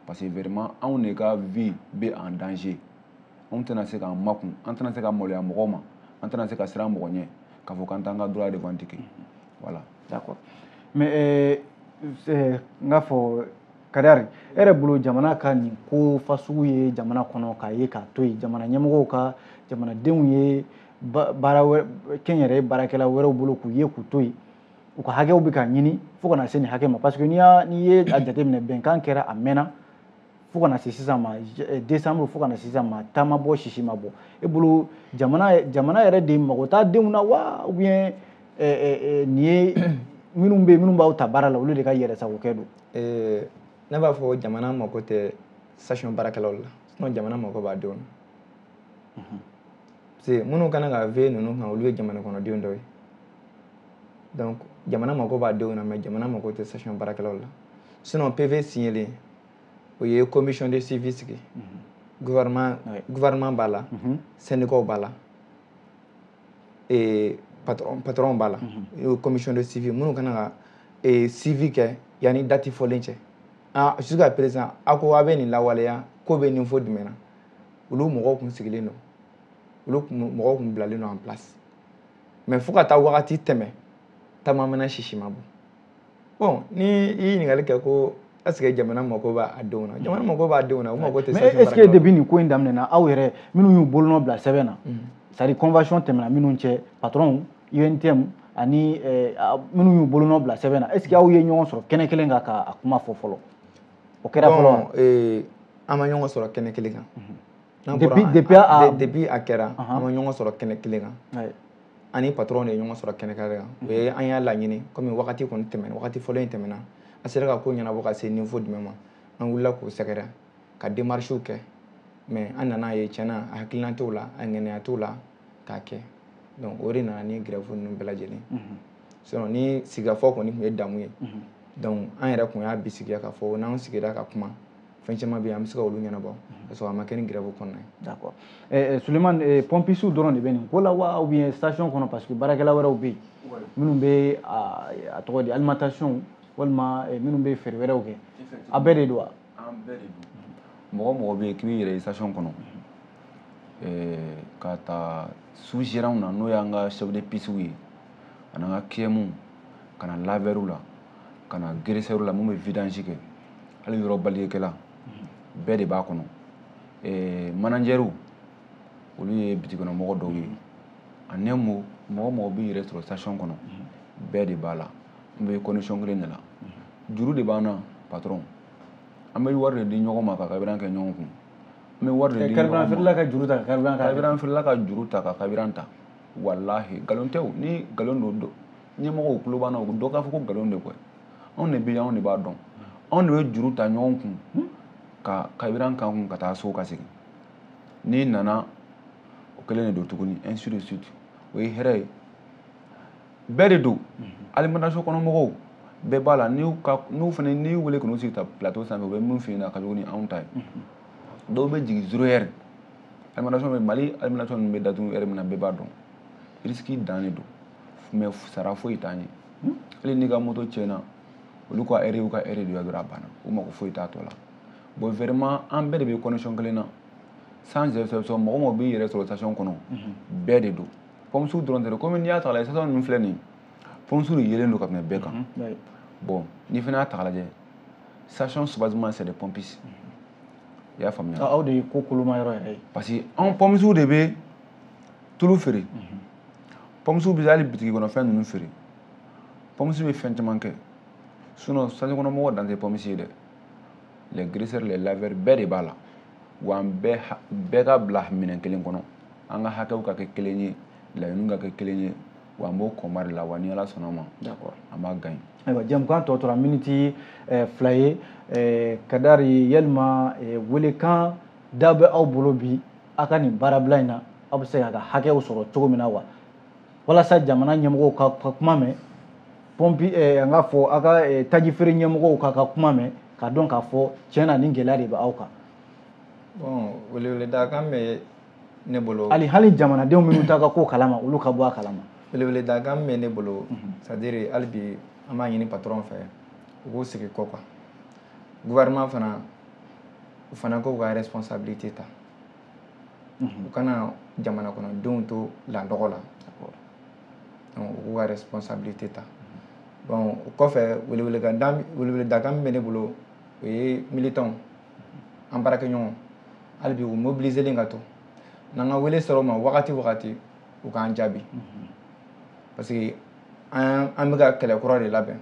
parce que vraiment anw de ka vie bɛ en danger anw tɛna se k'an makun an tɛna se ka maloya mɔgɔw ma an tɛna se ka siran mɔgɔ ɲɛ k'a fɔ k'an t'an ka droit revendiquer voilà d'accord mais euh, n k'a fɔ Kadiri e yɛrɛ bolo jamana ka nin ko fasugu ye jamana kɔnɔ k'a ye k'a to yen jamana ɲɛmɔgɔw ka jamanadenw ye kɛnyɛrɛye baarakɛla wɛrɛw bolo k'u ye k'u to yen u ka hakɛw bɛ ka ɲini fo ka na se nin hakɛ ma parce que n'i n'i ye a jateminɛ bɛnkan kɛra a mɛnna fo ka na se sisan ma décembre fo ka na se sisan ma ta ma bɔ sisi ma bɔ e bolo jamana yɛrɛ de mako t'a denw na wa nin ye minnu bɛ minnu b'aw ta baara la olu de ka yɛrɛ sagokɛ don ee ne b'a fɔ jamana mako tɛ station baarakɛlaw la sinon jamana mako b'a denw na parce que minnu kan ka veiller ninnu kan olu ye jamana kɔnɔdenw dɔ ye donc jamana mako b'a denw na mais jamana mako tɛ station baarakɛlaw la sinon PV signelen o ye commission de suivi sigi gouvernement b'a la syndicats b'a la ee patron patron b'a la mhm. commission de suivi minnu kan ka ee suivi kɛ yanni date fɔlen cɛ ah jusqu'à présent a ko a bɛ nin lawaleya ko bɛ niveau jumɛn na olu mɔgɔw tun sigilen don olu mɔgɔw tun bilalen don en place mais fo ka taa wagati tɛmɛ ta ma mɛnɛ sisi ma bɔ bon ni i ye ɲininkali kɛ ko est ce que jamana mako b'a denw na jamana mako b'a denw na u mako tɛ mais est ce que depuis nin ko in daminɛna aw yɛrɛ minnu y'u bolonɔ bila sɛbɛn na mm. c'est à dire convention tɛmɛna minnu cɛ patron UNTM ani eh, minnu y'u bolonɔ bila sɛbɛn na est ce que aw ye ɲɔgɔn sɔrɔ kɛnɛ kelen kan k'a kuma fɔ fɔlɔ o kɛra fɔlɔ wa eh, an ma ɲɔgɔn sɔrɔ kɛnɛ kelen kan mhm. N'an bɔra Depuis- an- depuis a- an- de- depuis a kɛra Ahan. an ma ɲɔgɔn sɔrɔ kɛnɛ kelen kan Ayi. an ni patron de ye ɲɔgɔn sɔrɔ kɛnɛ kelen kan o ye an y'a laɲini komi wagati kɔni tɛmɛna wagati fɔlɔ in tɛmɛna a sera ka ko ɲɛnabɔ ka se niveau jumɛn ma an wulila k'u sɛgɛrɛ ka démarches kɛ mais an nan'a ye tiɲɛ na a hakilina t'o la a ŋaniya t'o la k'a kɛ donc o de nana ni grève ninnu bɛɛ lajɛlen Mhm. sinon ni sigikafɔ kɔni tun ye damu ye Mhm. donc an yɛrɛ tun y'a bisigiya k'a fɔ n'an sigira ka kuma fɛn caman bɛ yen an bɛ se ka olu ɲɛnabɔ ka sɔrɔ a ma kɛ ni grève kɔnɔna ye. d'accord ɛɛ Suleman pompistew dɔrɔn de bɛ nin ko la wa ou bien station kɔnɔ parce que baarakɛla wɛrɛw bɛ yen minnu bɛ a tɔgɔ di alimentation walima minnu bɛ feere wɛrɛw kɛ a bɛɛ de don wa. an bɛɛ de don mɔgɔ o mɔgɔ bɛ yen k'i b'i yɛrɛ ye station kɔnɔ ɛɛ ka ta sous gérantw na n'o y'an ka chef de pistew ye ani an ka KM ka na laveurw la. ka na graisseurs la mun bɛ vidange kɛ hali yɔrɔ baliyekɛla bɛɛ de b'a kɔnɔ ɛɛ managers olu ye bitiki kɔnɔ mɔgɔ dɔw ye ani mɔgɔ o mɔgɔ b'i yɛrɛ sɔrɔ station kɔnɔ bɛɛ de b'a la an bɛ condition kelen de la juru de b'an na patron an bɛ wari de di ɲɔgɔn ma ka carburant kɛ ɲɔgɔn kun an bɛ wari de di ɲɔgɔn ma carburant feerela ka juru ta ka carburant ta carburant feerela ka juru ta ka carburant ta walahi nkalon tɛ o ni nkalon don ɲɛmɔgɔw tulo b'an na u bɛ dɔ k'a fɔ ko nkalon de koyi anw de bɛ yen anw de b'a dɔn anw de bɛ juru ta ɲɔgɔn kun ka carburant k'an kun ka taa so ka segin n'i nana o kelen de don tuguni ainsi de suite o ye hɛrɛ ye bɛɛ de don alimentation kɔnɔ mɔgɔw bɛɛ b'a la n'u ka n'u fana n'i y'u wele k'u sigi ta plateau sanfɛ u bɛ min f'i ɲɛna ka jugu ni anw ta ye dɔw bɛ jigin zero heure alimentation bɛ mali alimentation ninnu bɛ datugu heure min na bɛɛ b'a dɔn risque dan de don mais sara foyi t'an ye hali n'i ka moto tiɲɛna olu ka heure y'u ka heure de ye dɔrɔn a banna u mako foyi t'a tɔ la bon vraiment an bɛɛ de bɛ condition kelen na sans exception mɔgɔ o mɔgɔ b'i yɛrɛ sɔrɔ station kɔnɔ bɛɛ de don pompiste dɔrɔn tɛ dɛ komi n'i y'a ta k'a lajɛ station ninnu filɛ nin ye pompiste de yelen don ka tɛmɛ bɛɛ kan bon n'i fana y'a ta k'a lajɛ station soubassement c'est des pompistes i y'a faamuya anw de ye ko koloma yɔrɔ yɛrɛ ye parce que anw pompistes de bɛ tulu feere pompistes bɛ hali bitigi kɔnɔ fɛn ninnu feere pompiste bɛ fɛn caman kɛ sinon station kɔnɔ mɔgɔ dan tɛ pompiste ye dɛ les graisseurs les laveurs bɛɛ de b'a la wa an bɛɛ ka bila minɛn kelen kɔnɔ an ka hakɛw ka kɛ kelen ye laɲiniw ka kɛ kelen ye wa an b'o combat de la wa ni ala sɔnna a ma an b'a gagner ayiwa jɛmukan tɔ tora miniti eh, fila ye eh, kadari yalima eh, welekan da bɛ aw bolo bi aw ka nin baarabila in na aw bɛ se k'a ka hakɛw sɔrɔ cogo min na wa walasa jamana ɲɛmɔgɔw k'a ka kuma mɛn pɔnpi eh, an k'a fɔ aw ka eh, tajifeere ɲɛmɔgɔw k'a ka kuma mɛn k'a dɔn k'a fɔ tiɲɛ na nin gɛlɛya de bɛ aw kan bon weleweledakan bɛ ne bolo hali hali jamanadenw minnu t'a ka ko kalama olu ka bɔ a kalama weleweledakan bɛ ne bolo mhm. c'est-à-dire hali bi an b'a ɲini patron fɛ u k'u sigi ko kan gouvernement fana u fana k'u ka responsabilité ta u kana jamana kɔnɔdenw to landɔgɔ la donc u k'u ka responsabilité ta bon o kɔfɛ weleweledakan weleweledakan min bɛ ne bolo o ye militants an baarakɛɲɔgɔn hali bi u mobiliselen ka to n'an ka wele sɔrɔ u ma wagati o wagati u k'an jaabi parce que an bɛ ka kɛlɛ kura de labɛn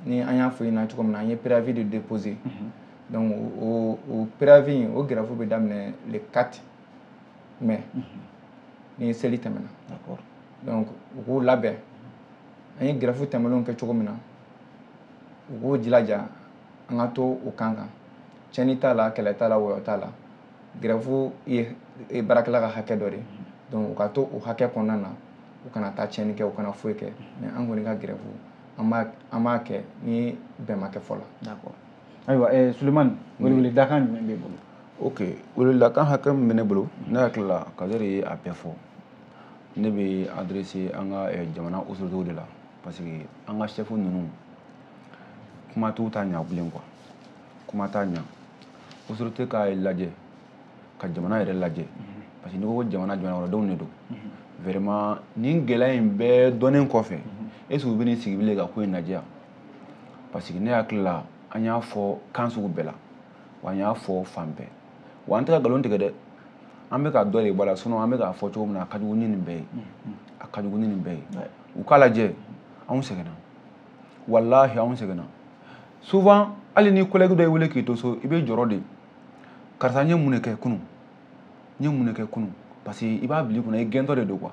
ni an y'a fɔ i ɲɛna cogo min na an ye préavis de déposer donc o o préavis in o grève bɛ daminɛ le 4 mai mhm. ni seli tɛmɛna d'accord donc u k'u labɛn an ye grève tɛmɛnenw kɛ cogo min na u k'u jilaja an ka to o kan kan tiɲɛni t'a la kɛlɛ t'a la wɔyɔ t'a la grève ye baarakɛla ka hakɛ dɔ de ye mhm. donc u ka to o hakɛ kɔnɔna na u kana taa tiɲɛni kɛ u kana foyi kɛ mhm. mais an kɔni ka grève an b'a kɛ ni bɛn ma kɛ fɔlɔ d'accord ayiwa eh, sulemani mm. weleweledakan jumɛn b'e bolo ok weleweledakan hakɛ min bɛ ne bolo ne hakili la kadɛri ye a bɛɛ fɔ ne bɛ adresser an ka eh, jamana autoritéw de la parce que an ka chef ninnu kuma t'u ta ɲa bilen quoi kuma t'a ɲa autorité k'a lajɛ ka jamana yɛrɛ lajɛ mhm. parce que n'i ko jamana jamanakɔnɔdenw de don mhm. vraiment nin gɛlɛya in bɛɛ dɔnnen kɔfɛ mhm. est ce que u bɛn'i sigi bilen ka ko in lajɛ yan parce que ne hakili la an y'a fɔ kan sugu bɛɛ la wa an y'a fɔ fan bɛɛ wa an tɛ ka nkalon tigɛ dɛ an bɛ ka dɔ de bɔ a la sinon an bɛ k'a fɔ cogo min na a ka jugu ni nin bɛɛ ye a ka jugu ni nin bɛɛ ye u k'a lajɛ anw sɛgɛnna walahi anw sɛgɛnna souvent hali ni collègue dɔ y'i wele k'i to so i bɛ jɔrɔ de karisa n ye mun de kɛ kunun n ye mun de kɛ kunun parce que i b'a bila i kunna i gɛntɔ de don quoi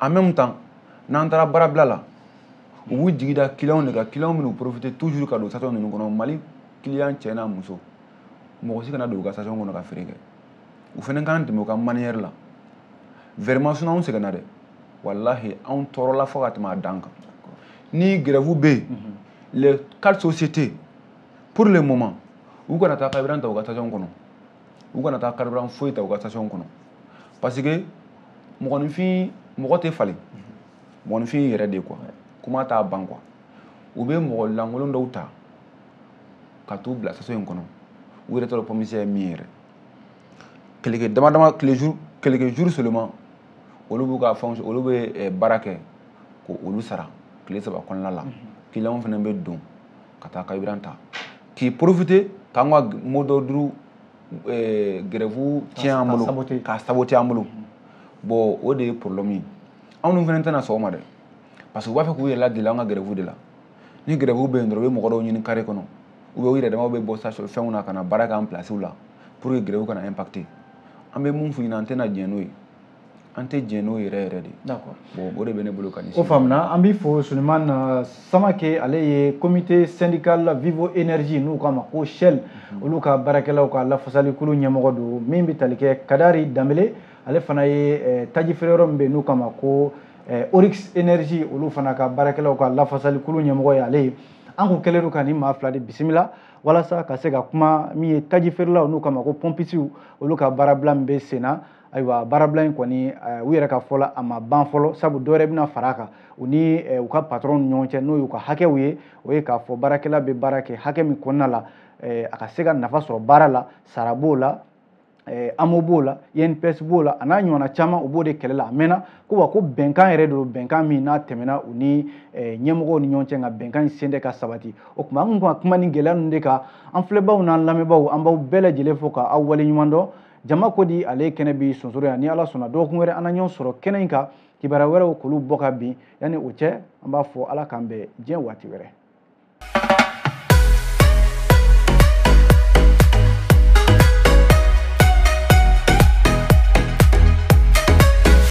en même temps n'an taara baarabila la u b'u jigi da kiliyanw de kan kiliyanw bɛn'u profiter toujours ka don station ninnu kɔnɔ mali kiliyan cɛ n'a muso mɔgɔ si kana don u ka station kɔnɔ ka feere kɛ u fana k'an dɛmɛ u ka manière la vraiment sinon anw sɛgɛnna dɛ walahi anw tɔɔrɔla fo ka tɛmɛ a dan kan ni grève bɛ yen mhm. les quatre sociétés pour le moment u kana taa carburant ta u ka station kɔnɔ u kana taa carburant foyi ta u ka station kɔnɔ parce que mɔgɔninfin mɔgɔ tɛ falen mɔgɔninfin y'i yɛrɛ de ye quoi kuma t'a ban quoi u bɛ mɔgɔ lankolon dɔw ta ka t'u bila station in kɔnɔ u yɛrɛ t'a dɔn pompiste ye min ye yɛrɛ quelques dama dama quelques jours quelques jours seulement olu b'u ka fɛnw olu bɛ eh, baara kɛ k'olu sara tile saba kɔnɔna la kiliyanw fana bɛ don ka taa carburant ta k'i profiter k'an ka mot d'ordre eh, grève tiɲɛ an bolo k'a saboter an bolo bon o de ye problème ye anw dun fana tɛna sɔn o ma dɛ parce que u b'a fɛ k'u yɛrɛ ladeli an ka grève de la ni grève bɛ yen dɔrɔn u bɛ mɔgɔ dɔw ɲini carré kɔnɔ ou bien u yɛrɛ damaw bɛ bɔ station fɛnw na ka na baara k'an place la pour que grève kana impacter an bɛ mun f'u ɲɛna an tɛna diɲɛ n'o ye an tɛ jɛn n'o yɛrɛ yɛrɛ de bon o de bɛ ne bolo ka ɲɛsin o faamuna an b'i fo Sulemani euh, Samake ale ye comité syndical Vivo Énergie n'u k'a ma ko Shell mhm. olu ka baarakɛlaw ka lafasalikulu ɲɛmɔgɔ don min bɛ tali kɛ Kadari Danbele ale fana ye euh, taji feere yɔrɔ min bɛ yen n'u k'a ma ko euh, Oryx Énergie olu fana ka baarakɛlaw ka lafasalikulu ɲɛmɔgɔ ye ale ye an kun kɛlen don ka nin maa fila de bisimila walasa ka se ka kuma min ye taji feerelaw n'u k'a ma ko pɔmpisiw olu ka baarabila min bɛ sen na ayiwa baarabila in kɔni eh, u yɛrɛ ka fɔ la a ma ban fɔlɔ sabu dɔ wɛrɛ bɛna fara a kan u ni eh, u ka patɔrɔn ni ɲɔgɔn cɛ n'o y'u ka hakɛw ye o ye k'a fɔ baarakɛla bɛ baara kɛ hakɛ min kɔnɔna la eh, a ka se ka nafa sɔrɔ baara la sara b'o la AMO b'o la INPS b'o la a n'a ɲɔgɔnna caman u b'o de kɛlɛ la a mɛnna ko wa ko bɛnkan yɛrɛ don bɛnkan min n'a tɛmɛna u ni ɲɛmɔgɔw ni ɲɔgɔn cɛ nka bɛnkan in sen tɛ ka sabati o tuma an kun ka kuma nin gɛlɛya ninnu de kan an filɛbaaw n'an lamɛnbaaw an b'aw bɛɛ lajɛlen fo k'aw waleɲuman dɔn jama ko di ale kɛnɛ b'i sonsoro yan ni ala sɔnna dɔgɔkun wɛrɛ an na ɲɔgɔn sɔrɔ kɛnɛ in kan kibaruya wɛrɛw k'olu bɔ ka bin yanni o cɛ an b'a fɔ ala k'an bɛn diɲɛ waati wɛrɛ